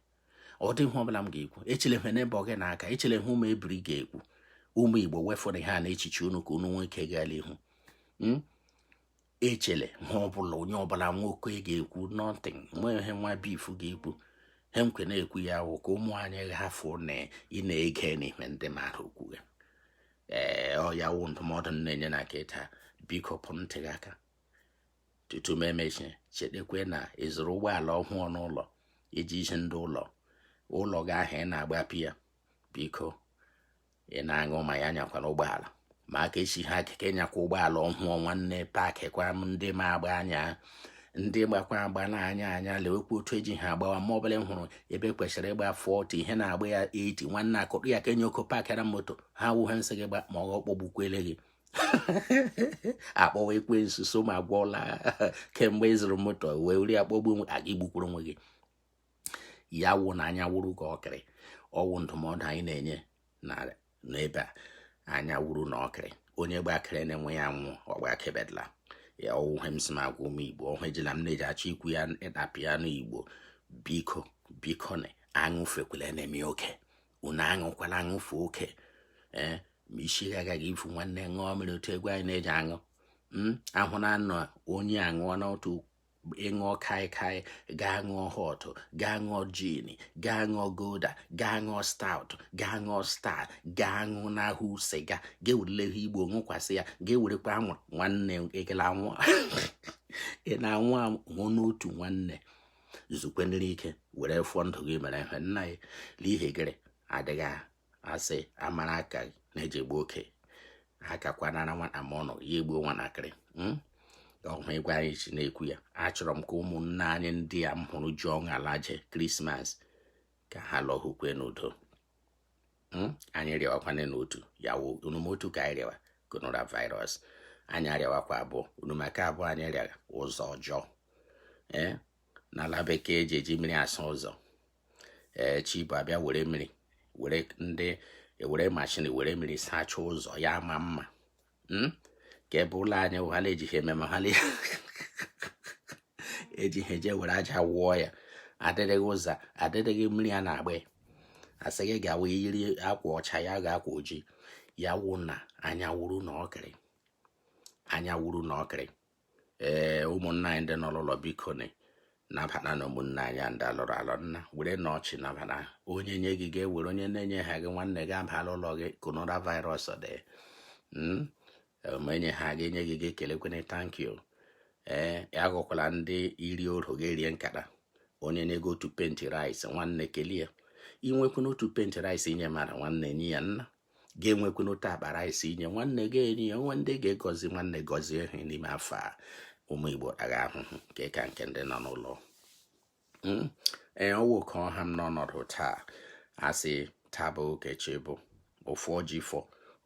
ọ dị ihe ọbụla m ga-ekwu echele ihe neighbour gị na-aka echele ihe ụmụ ebiri ga-ekwu ụmụ igbo wefụrụ ihe a na echiche unu ka unu nwee ike gaa l'ihu hmm? echele ihe ọbụla onye ọbụla nwere ike ga-ekwu nothing nwee ihe nwa bif ga-ekwu he nkwe na-ekwu ya wụ ka ụmụ anyị hafụ na ị na-ege n'ihe ndị mmadụ okwu ya ee ọ ya wụ ndụmọdụ m na-enye na kịta biko pụ ntị gị aka tutu m emechi chetakwa na ị zụrụ ụgbọala ọhụụ n'ụlọ iji isi ndị ụlọ ụlọ gị ahụ ị na-agbapụ ya biko ị na-aṅụ mmanya anyakwana ụgbọala ma aka esighị gị ike ịnyakwa ụgbọala ọhụụ nwanne paakị kwa m ndị ma agba anya ndị gbakwa agba na-anya anya lewekwa otu eji ha agbawa mgbe ọbụla m hụrụ ebe e kwesịrị ịgba 40 ha na-agba ya 80 nwanne akụkụ ya ka enye oko paakịra moto ha wụ ihe m sị gị gba ma ọ kpọgbukwele gị akpọwa ekwensu so ma gwọla kemgbe ị zụrụ moto wee were akpọgbu igbukwuru onwe gị ya wụ na anya wuru gị ọkịrị ọ wụ ndụmọdụ anyị na-enye n'ebe a anya wuru na ọkịrị onye gbakere na-enwe ya nwụ ọgbakebedla ya ọ wụ ihe m sị m agwa ụmụ igbo ọhụ ejila m na-eji achọ ikwu ya tapịa n'igbo biko biko unu aṅụfekwele na-eme oke unu aṅụkwala aṅụfe oke ee ma isi gị agaghị ivu nwanne ṅụọ mmiri otu egwu anyị na-eji aṅụ hmm? ahụ na anọ onye aṅụọ n'otu ị ṅụọ kaikai gaa ṅụọ hot gaa ṅụọ gin gaa ṅụọ gulder gaa ṅụọ stout gaa ṅụọ star gaa ṅụọ na-aṅụ sịga gaa were ihe igbo ṅụkwasị ya gaa werekwa anwụrụ nwanne ekele anwụ ị na-anwụ anwụ n'otu nwanne zukwenụrụ ike were fụọ ndụ gị mere ihe nna ya n'ihi gịrị adịghị asị amara aka a na-eji egbu oke akakwanara nwata ma ọ nụ ya egbuo nwatakịrị hmm? ọhụ ịgwa anyị ji na-ekwu ya achọrọ m ka ụmụnna anyị ndị a m hụrụ ji ọṅụ alaje krismas ka ha lọhụkwe n'udo hmm? anyị rịawakwana n'otu ya wụ nọmba otu ka anyị rịawa coronavirus anyị arịawakwa abụọ nọmba nke abụọ anyị rịara ụzọ ọjọọ ee eh? n'ala bekee eji eji mmiri asa ụzọ ee eh, chi bọọ a bịa were mmiri were mashin were mmiri sachaa ụzọ ya amaa mma hmm? ka ebe ụlọ anyị wụ ha na-ejighị eme ma ha ejighị eje were aja wụọ ya adịrịghị ụzọ adịrịghị mmiri a na-agba ya a sị gị gawa yiri akwa ọcha ya ga akwa ojii ya wụ na anya wuru na ọkịrị anya wuru na ọkịrị ee ụmụnna anyị ndị nọ n'ụlọ bikonụ nabatanụ ụmụnna anyị ndị alụrụ alụ nna werenụ ọchị nabata onye nye gị ga-ewere onye na-enye ha gị nwanne gị abala ụlọ gị coronavirus dị hmm? ma enye ha gị enye gị gị ekelekwana thank you ee agụkwala ndị iri oro gị erie nkata onye nye gị otu paint rice nwanne kele ya i nwekwuna otu paint rice inye mara nwanne nye ya nna gị enwekwuna otu akpa rice i nye nwanne gị erie ya nwe ndị ga-agọzi nwanne gọzie ha n'ime afọ a ụmụ Igbo ataga ahụhụ nke ka nke ndị nọ n'ụlọ hmm? ee ọ wụ ka ọ ha m n'ọnọdụ taa a sị taa bọọ ka echi bọọ ụfọ ji fọ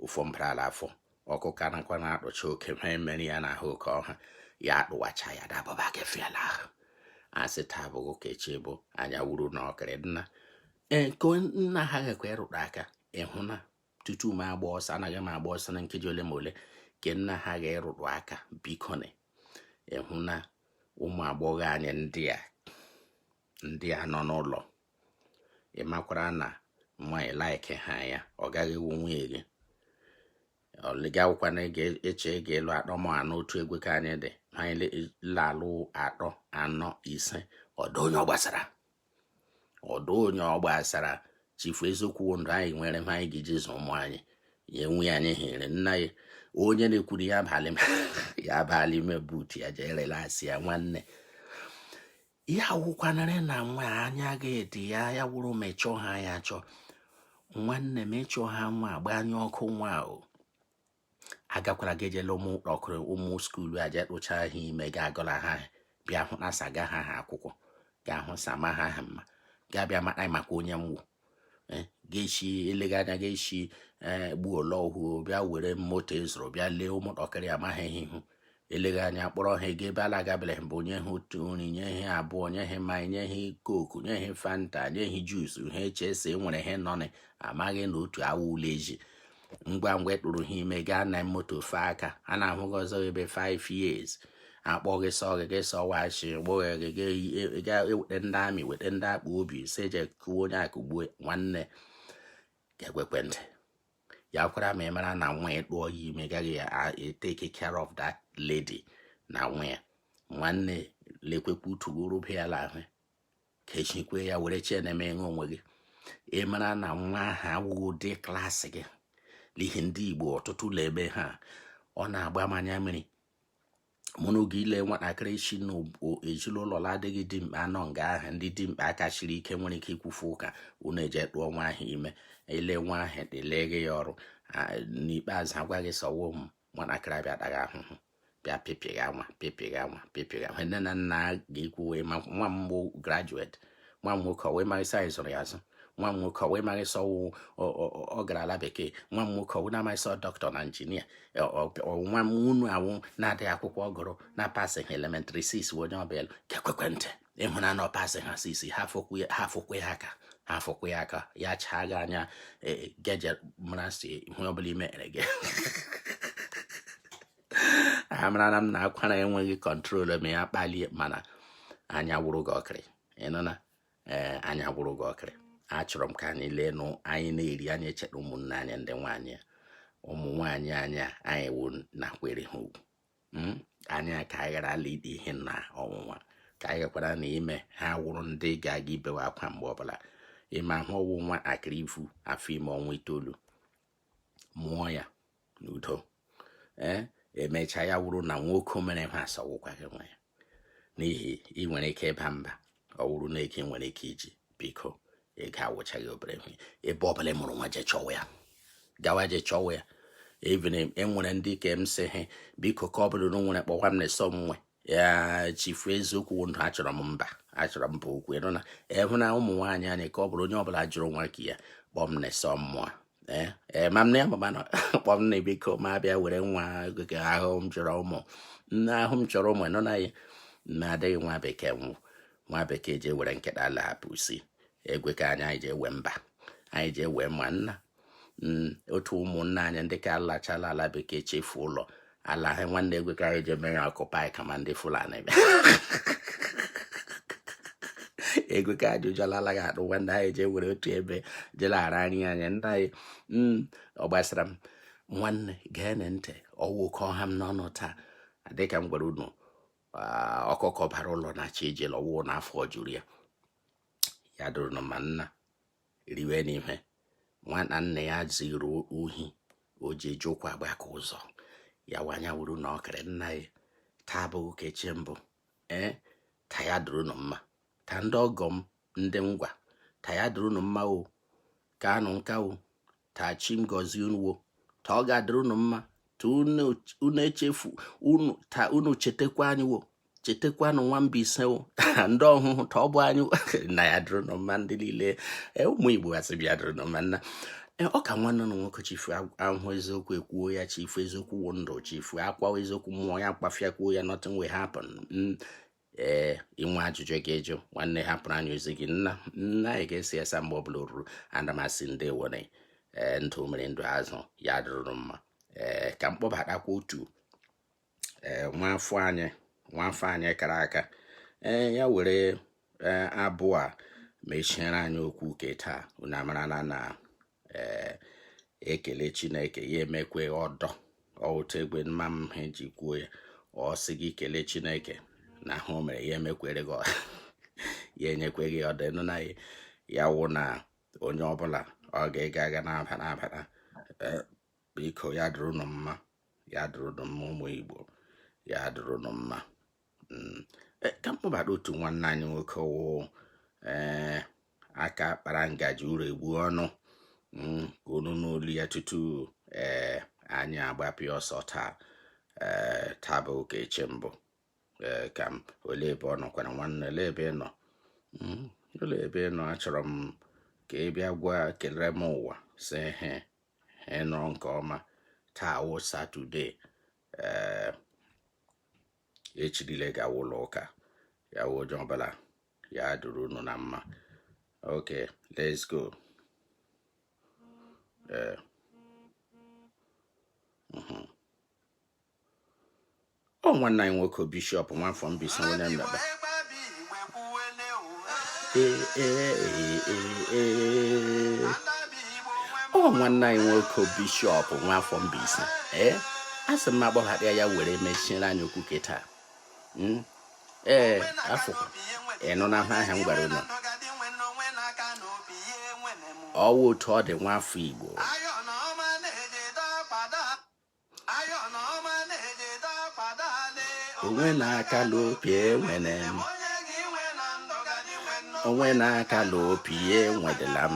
ụfọ mbarala afọ ọkụ ka nakwa na-akpụcha oke ma emere ya n'ahụ ka ọ ha ya akpụwacha ya dababa kefiala ahụ a sị taa bọọ ka echi bọọ anya wụrụnụ okiri nna e, nke nna ha gakwa ịrụtụ aka ị hụna tutu m agba ọsọ anaghị m agba ọsọ na nkeji ole ma ole nke nna ha ga-arụtụ aka bikonụ ị hụna ụmụ agbọghọ anyị ndị a ndị a nọ n'ụlọ ị makwara na nwa ị like ha ya ọ gaghị awụ nwunye gị ọlịga awụkwana eche ị ga-alụ atọ ma anọ otu egwe ka anyị dị ma anyị la-alụ atọ anọ ise ọ dụ onye ọ gbasara ọ dụ onye ọ gbasara chifu eziokwu ndụ anyị nwere ma anyị ga-eji zụ ụmụ anyị ya enwe anyị hiri nna ya onye na-ekwuru ya abalị ya aba n'ime buutu ya jee relax ya nwanne ya wụkwanarị na nwa anya ga-edi ya ya wụrụ ma ị chọ ha ya chọọ nwanne ma ị chọ ha nwa gbanye ọkụ nwa o agakwala gị ejela ụmụ ọkụrụ ụmụ skuulu eje tụcha ha ime ga agọla ha bịa hụ na saga ha ha akwụkwọ ga-ahụ sama ha ha mma ga-abịa mata maka onye m wụ eh, ga-esi eleghị anya ga-esi eh, gbuo ole ọhụụ bịa were moto ị zụrụ e bịa lee ụmụntakịrị amaghị ihe ihu eleghị anya kpọrọ ha gaa ebe ha la-agabeghị mbụ nye ha otu nri nye ha abụọ nye ha mmanya nye ha coke nye ha fanta nye ha juice ha eche sị e nwere ha nọnị amaghị na otu awa ụlọ eji ngwa ngwa ị tụrụ ha ime gaa na moto fe aka a na-ahụ gị ọzọ ebe 5 years akpọ gị sọ gị gị sọ wachi gboghe gị ga eweta ndị army weta ndị akpụ obi sị je kụwa onye akụgbue nwanne gị gekwee ntị ya wụrụ ma ị mara na nwa ya tụọ ya ime gaghị take care of that lady na nwa ya nwanne lekwekwa utu gị rụba ya l'ahụ kechikwe ya were chee na-eme ihe onwe gị ị mara na nwa ahụ awụghị ụdị class gị n'ihi ndị Igbo ọtụtụ l'ebe ha ọ na-agba m anya mmiri mụ na oge ile nwatakịrị si na ezinụlọ adịghị dimkpa anọ nga ahụ ndị dimkpa aka siri ike nwere ike ikwufu ụka unu eje tụọ nwa ahụ ime ele nwa ahụ dịleghe ya ọrụ n'ikpeazụ a gwa gị sị ọ wụ m nwatakịrị abịa ataghị ahụhụ bịa pịpịghị anwa pịpịghị anwa pịpịghị anwa nne na nna ga-ekwu wee ma nwa m bụ graduate nwa m nwoke wee mara isi anyị zụrụ ya azụ nwa m nwoke wee mara isi ọwụ ọ gara ala bekee nwa m nwoke wee na-amaghị sọ dọkịta na injinia nwa m unu awụ na-adịghị akwụkwọ ọ gụrụ na pasịghị elementary six onye ọbịa ga-ekwekwe ntị ịhụna na ọ pasị ha six hafụkwa ya aka hafụkwa ya aka ya chaa gị anya e, e, geje mara si ihe ọbụla i mere gị amarana m na akwara enweghị control ma ya kpalie mana anya wụrụ gị ọkịrị ịnụna ee anya wụrụ gị ọkịrị achọrọ m ka anyị lee nụ anyị na-eri anyị echeta ụmụnne anyị ndị nwaanyị ụmụ nwaanyị anyị anyị wụ nakwere ha ugwu hmm? anyị ka anyị ghara ala ide ihe na ọnwụnwa ka anyị ghakwara na ime ha wụrụ ndị ga-aga ibewe akwa mgbe ọbụla ị mahụ ọwụ nwatakịrị ivu afọ ime ọnwa itoolu mụọ ya n'udo ee eh? emechaa ya wụrụ na nwoke mere ha asị ọwụkwaghị nwa ya n'ihi ị nwere ike ịba mba ọ wụrụ na gị nwere ike iji biko ị ga-awụchaghị obere ihe ebe ọbụla mụrụ nwa je chọwa ya gawa je chọwa ya even enwere ndị ka m sị ha biko ka ọ bụrụ na nwere kpọwa m na-eso m nwe ya chifu eziokwu ndụ achọrọ m mba achọrọ m bụ okwu ịnụ na ịhụ na ụmụ nwaanyị anyị ka ọ bụrụ onye ọbụla jụrụ nwa ke ya kpọọ m na-eso mmụọ ee eh, ma m na ya mama nọ kpọ m na biko ma bịa were nwa gị ahụ m chọrọ ụmụ nne ahụ m chọrọ ụmụ nọ na ya na adịghị nwa bekee wụ nwa bekee jee were nkịta ala hapụ si egwe ka anyị anyị jewe mba anyị jewe ma nna mm, otu ụmụnna anyị ndị ka alachala ala bekee chefu ụlọ ala ha nwanne egwe ka anyị ji eme ya occupy kama ndị Fulani bịa egwe ka anyị ụjọlala ya adụ nwanne anyị jee were otu ebe jelara anyị anya ndị anyị mm, ọ gbasara m nwanne geenụ ntị ọwụ ka ọ ha m n'ọnụ taa dịka m gwara unu ah, ọkụkọ bara ụlọ na-achọ ije la ọwụ na afọ juru ya ya dịrị unu mma nna riwenụ ihe nwa na nna ya ziri ohi o ji eji ụkwụ agbaka ụzọ ya wụ anya wụrụ unu ọkịrị nna ya taa abụghị ka echi mbụ ee ta ya dịrị unu mma ta ndị ọgọ m ndị ngwa ta ya dịrị unu mma o kaanụ nka o ta chi m gọzie unu wo ta ọ ga-adịrị unu mma ta unu echefu unu ta unu chetakwa anyị wo chetakwanụ nwa Mbaise wo ndị Ọhụhụ ta ọ bụ anyị na ya dịrị unu mma ndị niile e, ụmụ Igbo asị bịa dịrị unu mma nna e, ọ kwa nwanne unu nwoke chifu ahụ eziokwu ekwuo ya chifu eziokwu wụ ndụ chifu akwawa eziokwu mmụọ ya kwuo ya nothing will happen mm. ee i nwee ajụjụ ị ga-ajụ nwanne hapụrụ anyị ozi gị nna nna anyị ga-esi esa mgbe ọbụla o ruru ana m asị ndeewonụ ee ndụ mmiri ndụ azụ ya dịrị unu mma ee ka m kpọbatakwa otu ee nwaafọ anyị nwaafọ anyị kara aka ee ya were abụ a mechiere anyị okwu ke taa unu amarala na ee e kelee chineke ya emekwe ọdọ ọ wụ otu egbe mma m ha ji kwuo ya ọ sị gị kelee chineke n'ihe o mere ya emekwere gị ya enyekwe gị ọdọ ị nụna ya wụ na onye ọbụla ọ ga-aga aga na-aba na-abata e, biko ya dịrị unu mma ya dịrị unu mma ụmụ igbo ya dịrị unu mma mm. e, ka m kpọbata otu nwanne anyị nwoke wụ ee aka kpara ngaji ụlọ egbu ọnụ mm, ka unu nụ olu ya tutu ee eh, anyị agbapịa ọsọ taa ee eh, taa bụ ụka eche mbụ ee eh, ka m olee ebe ọ nọkwara nwanne olee ebe ị nọ mm, olee ebe ị nọ achọrọ m ka ị bịa gwa kelere m ụwa sị he he nọọ nke ọma taa wụ satọde ee echi rule a gawa ụlọ ụka ya wụ onye ọbụla ya dịrị unu na mma okay let's go ee mhm. ọ nwanne anyị nwoke bishọp nwafọ Mbaise onye mmekpa ọ nwanne anyị nwoke bishọp nwafọ Mbaise ee a sị m agbọghara ya were mechiere anyị okwu ke taa hmm? ee afọ ị nụna ihe a m gwara unu ọ wụ otu ọ dị nwaafọ igbo onwe na-aka n'opi enwere m onwe na-aka n'opi enwedela m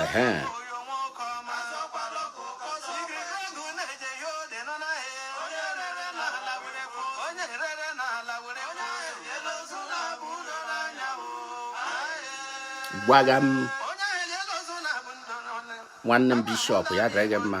ehe gwaga m nwanne m bishọp ya dịrị gị mma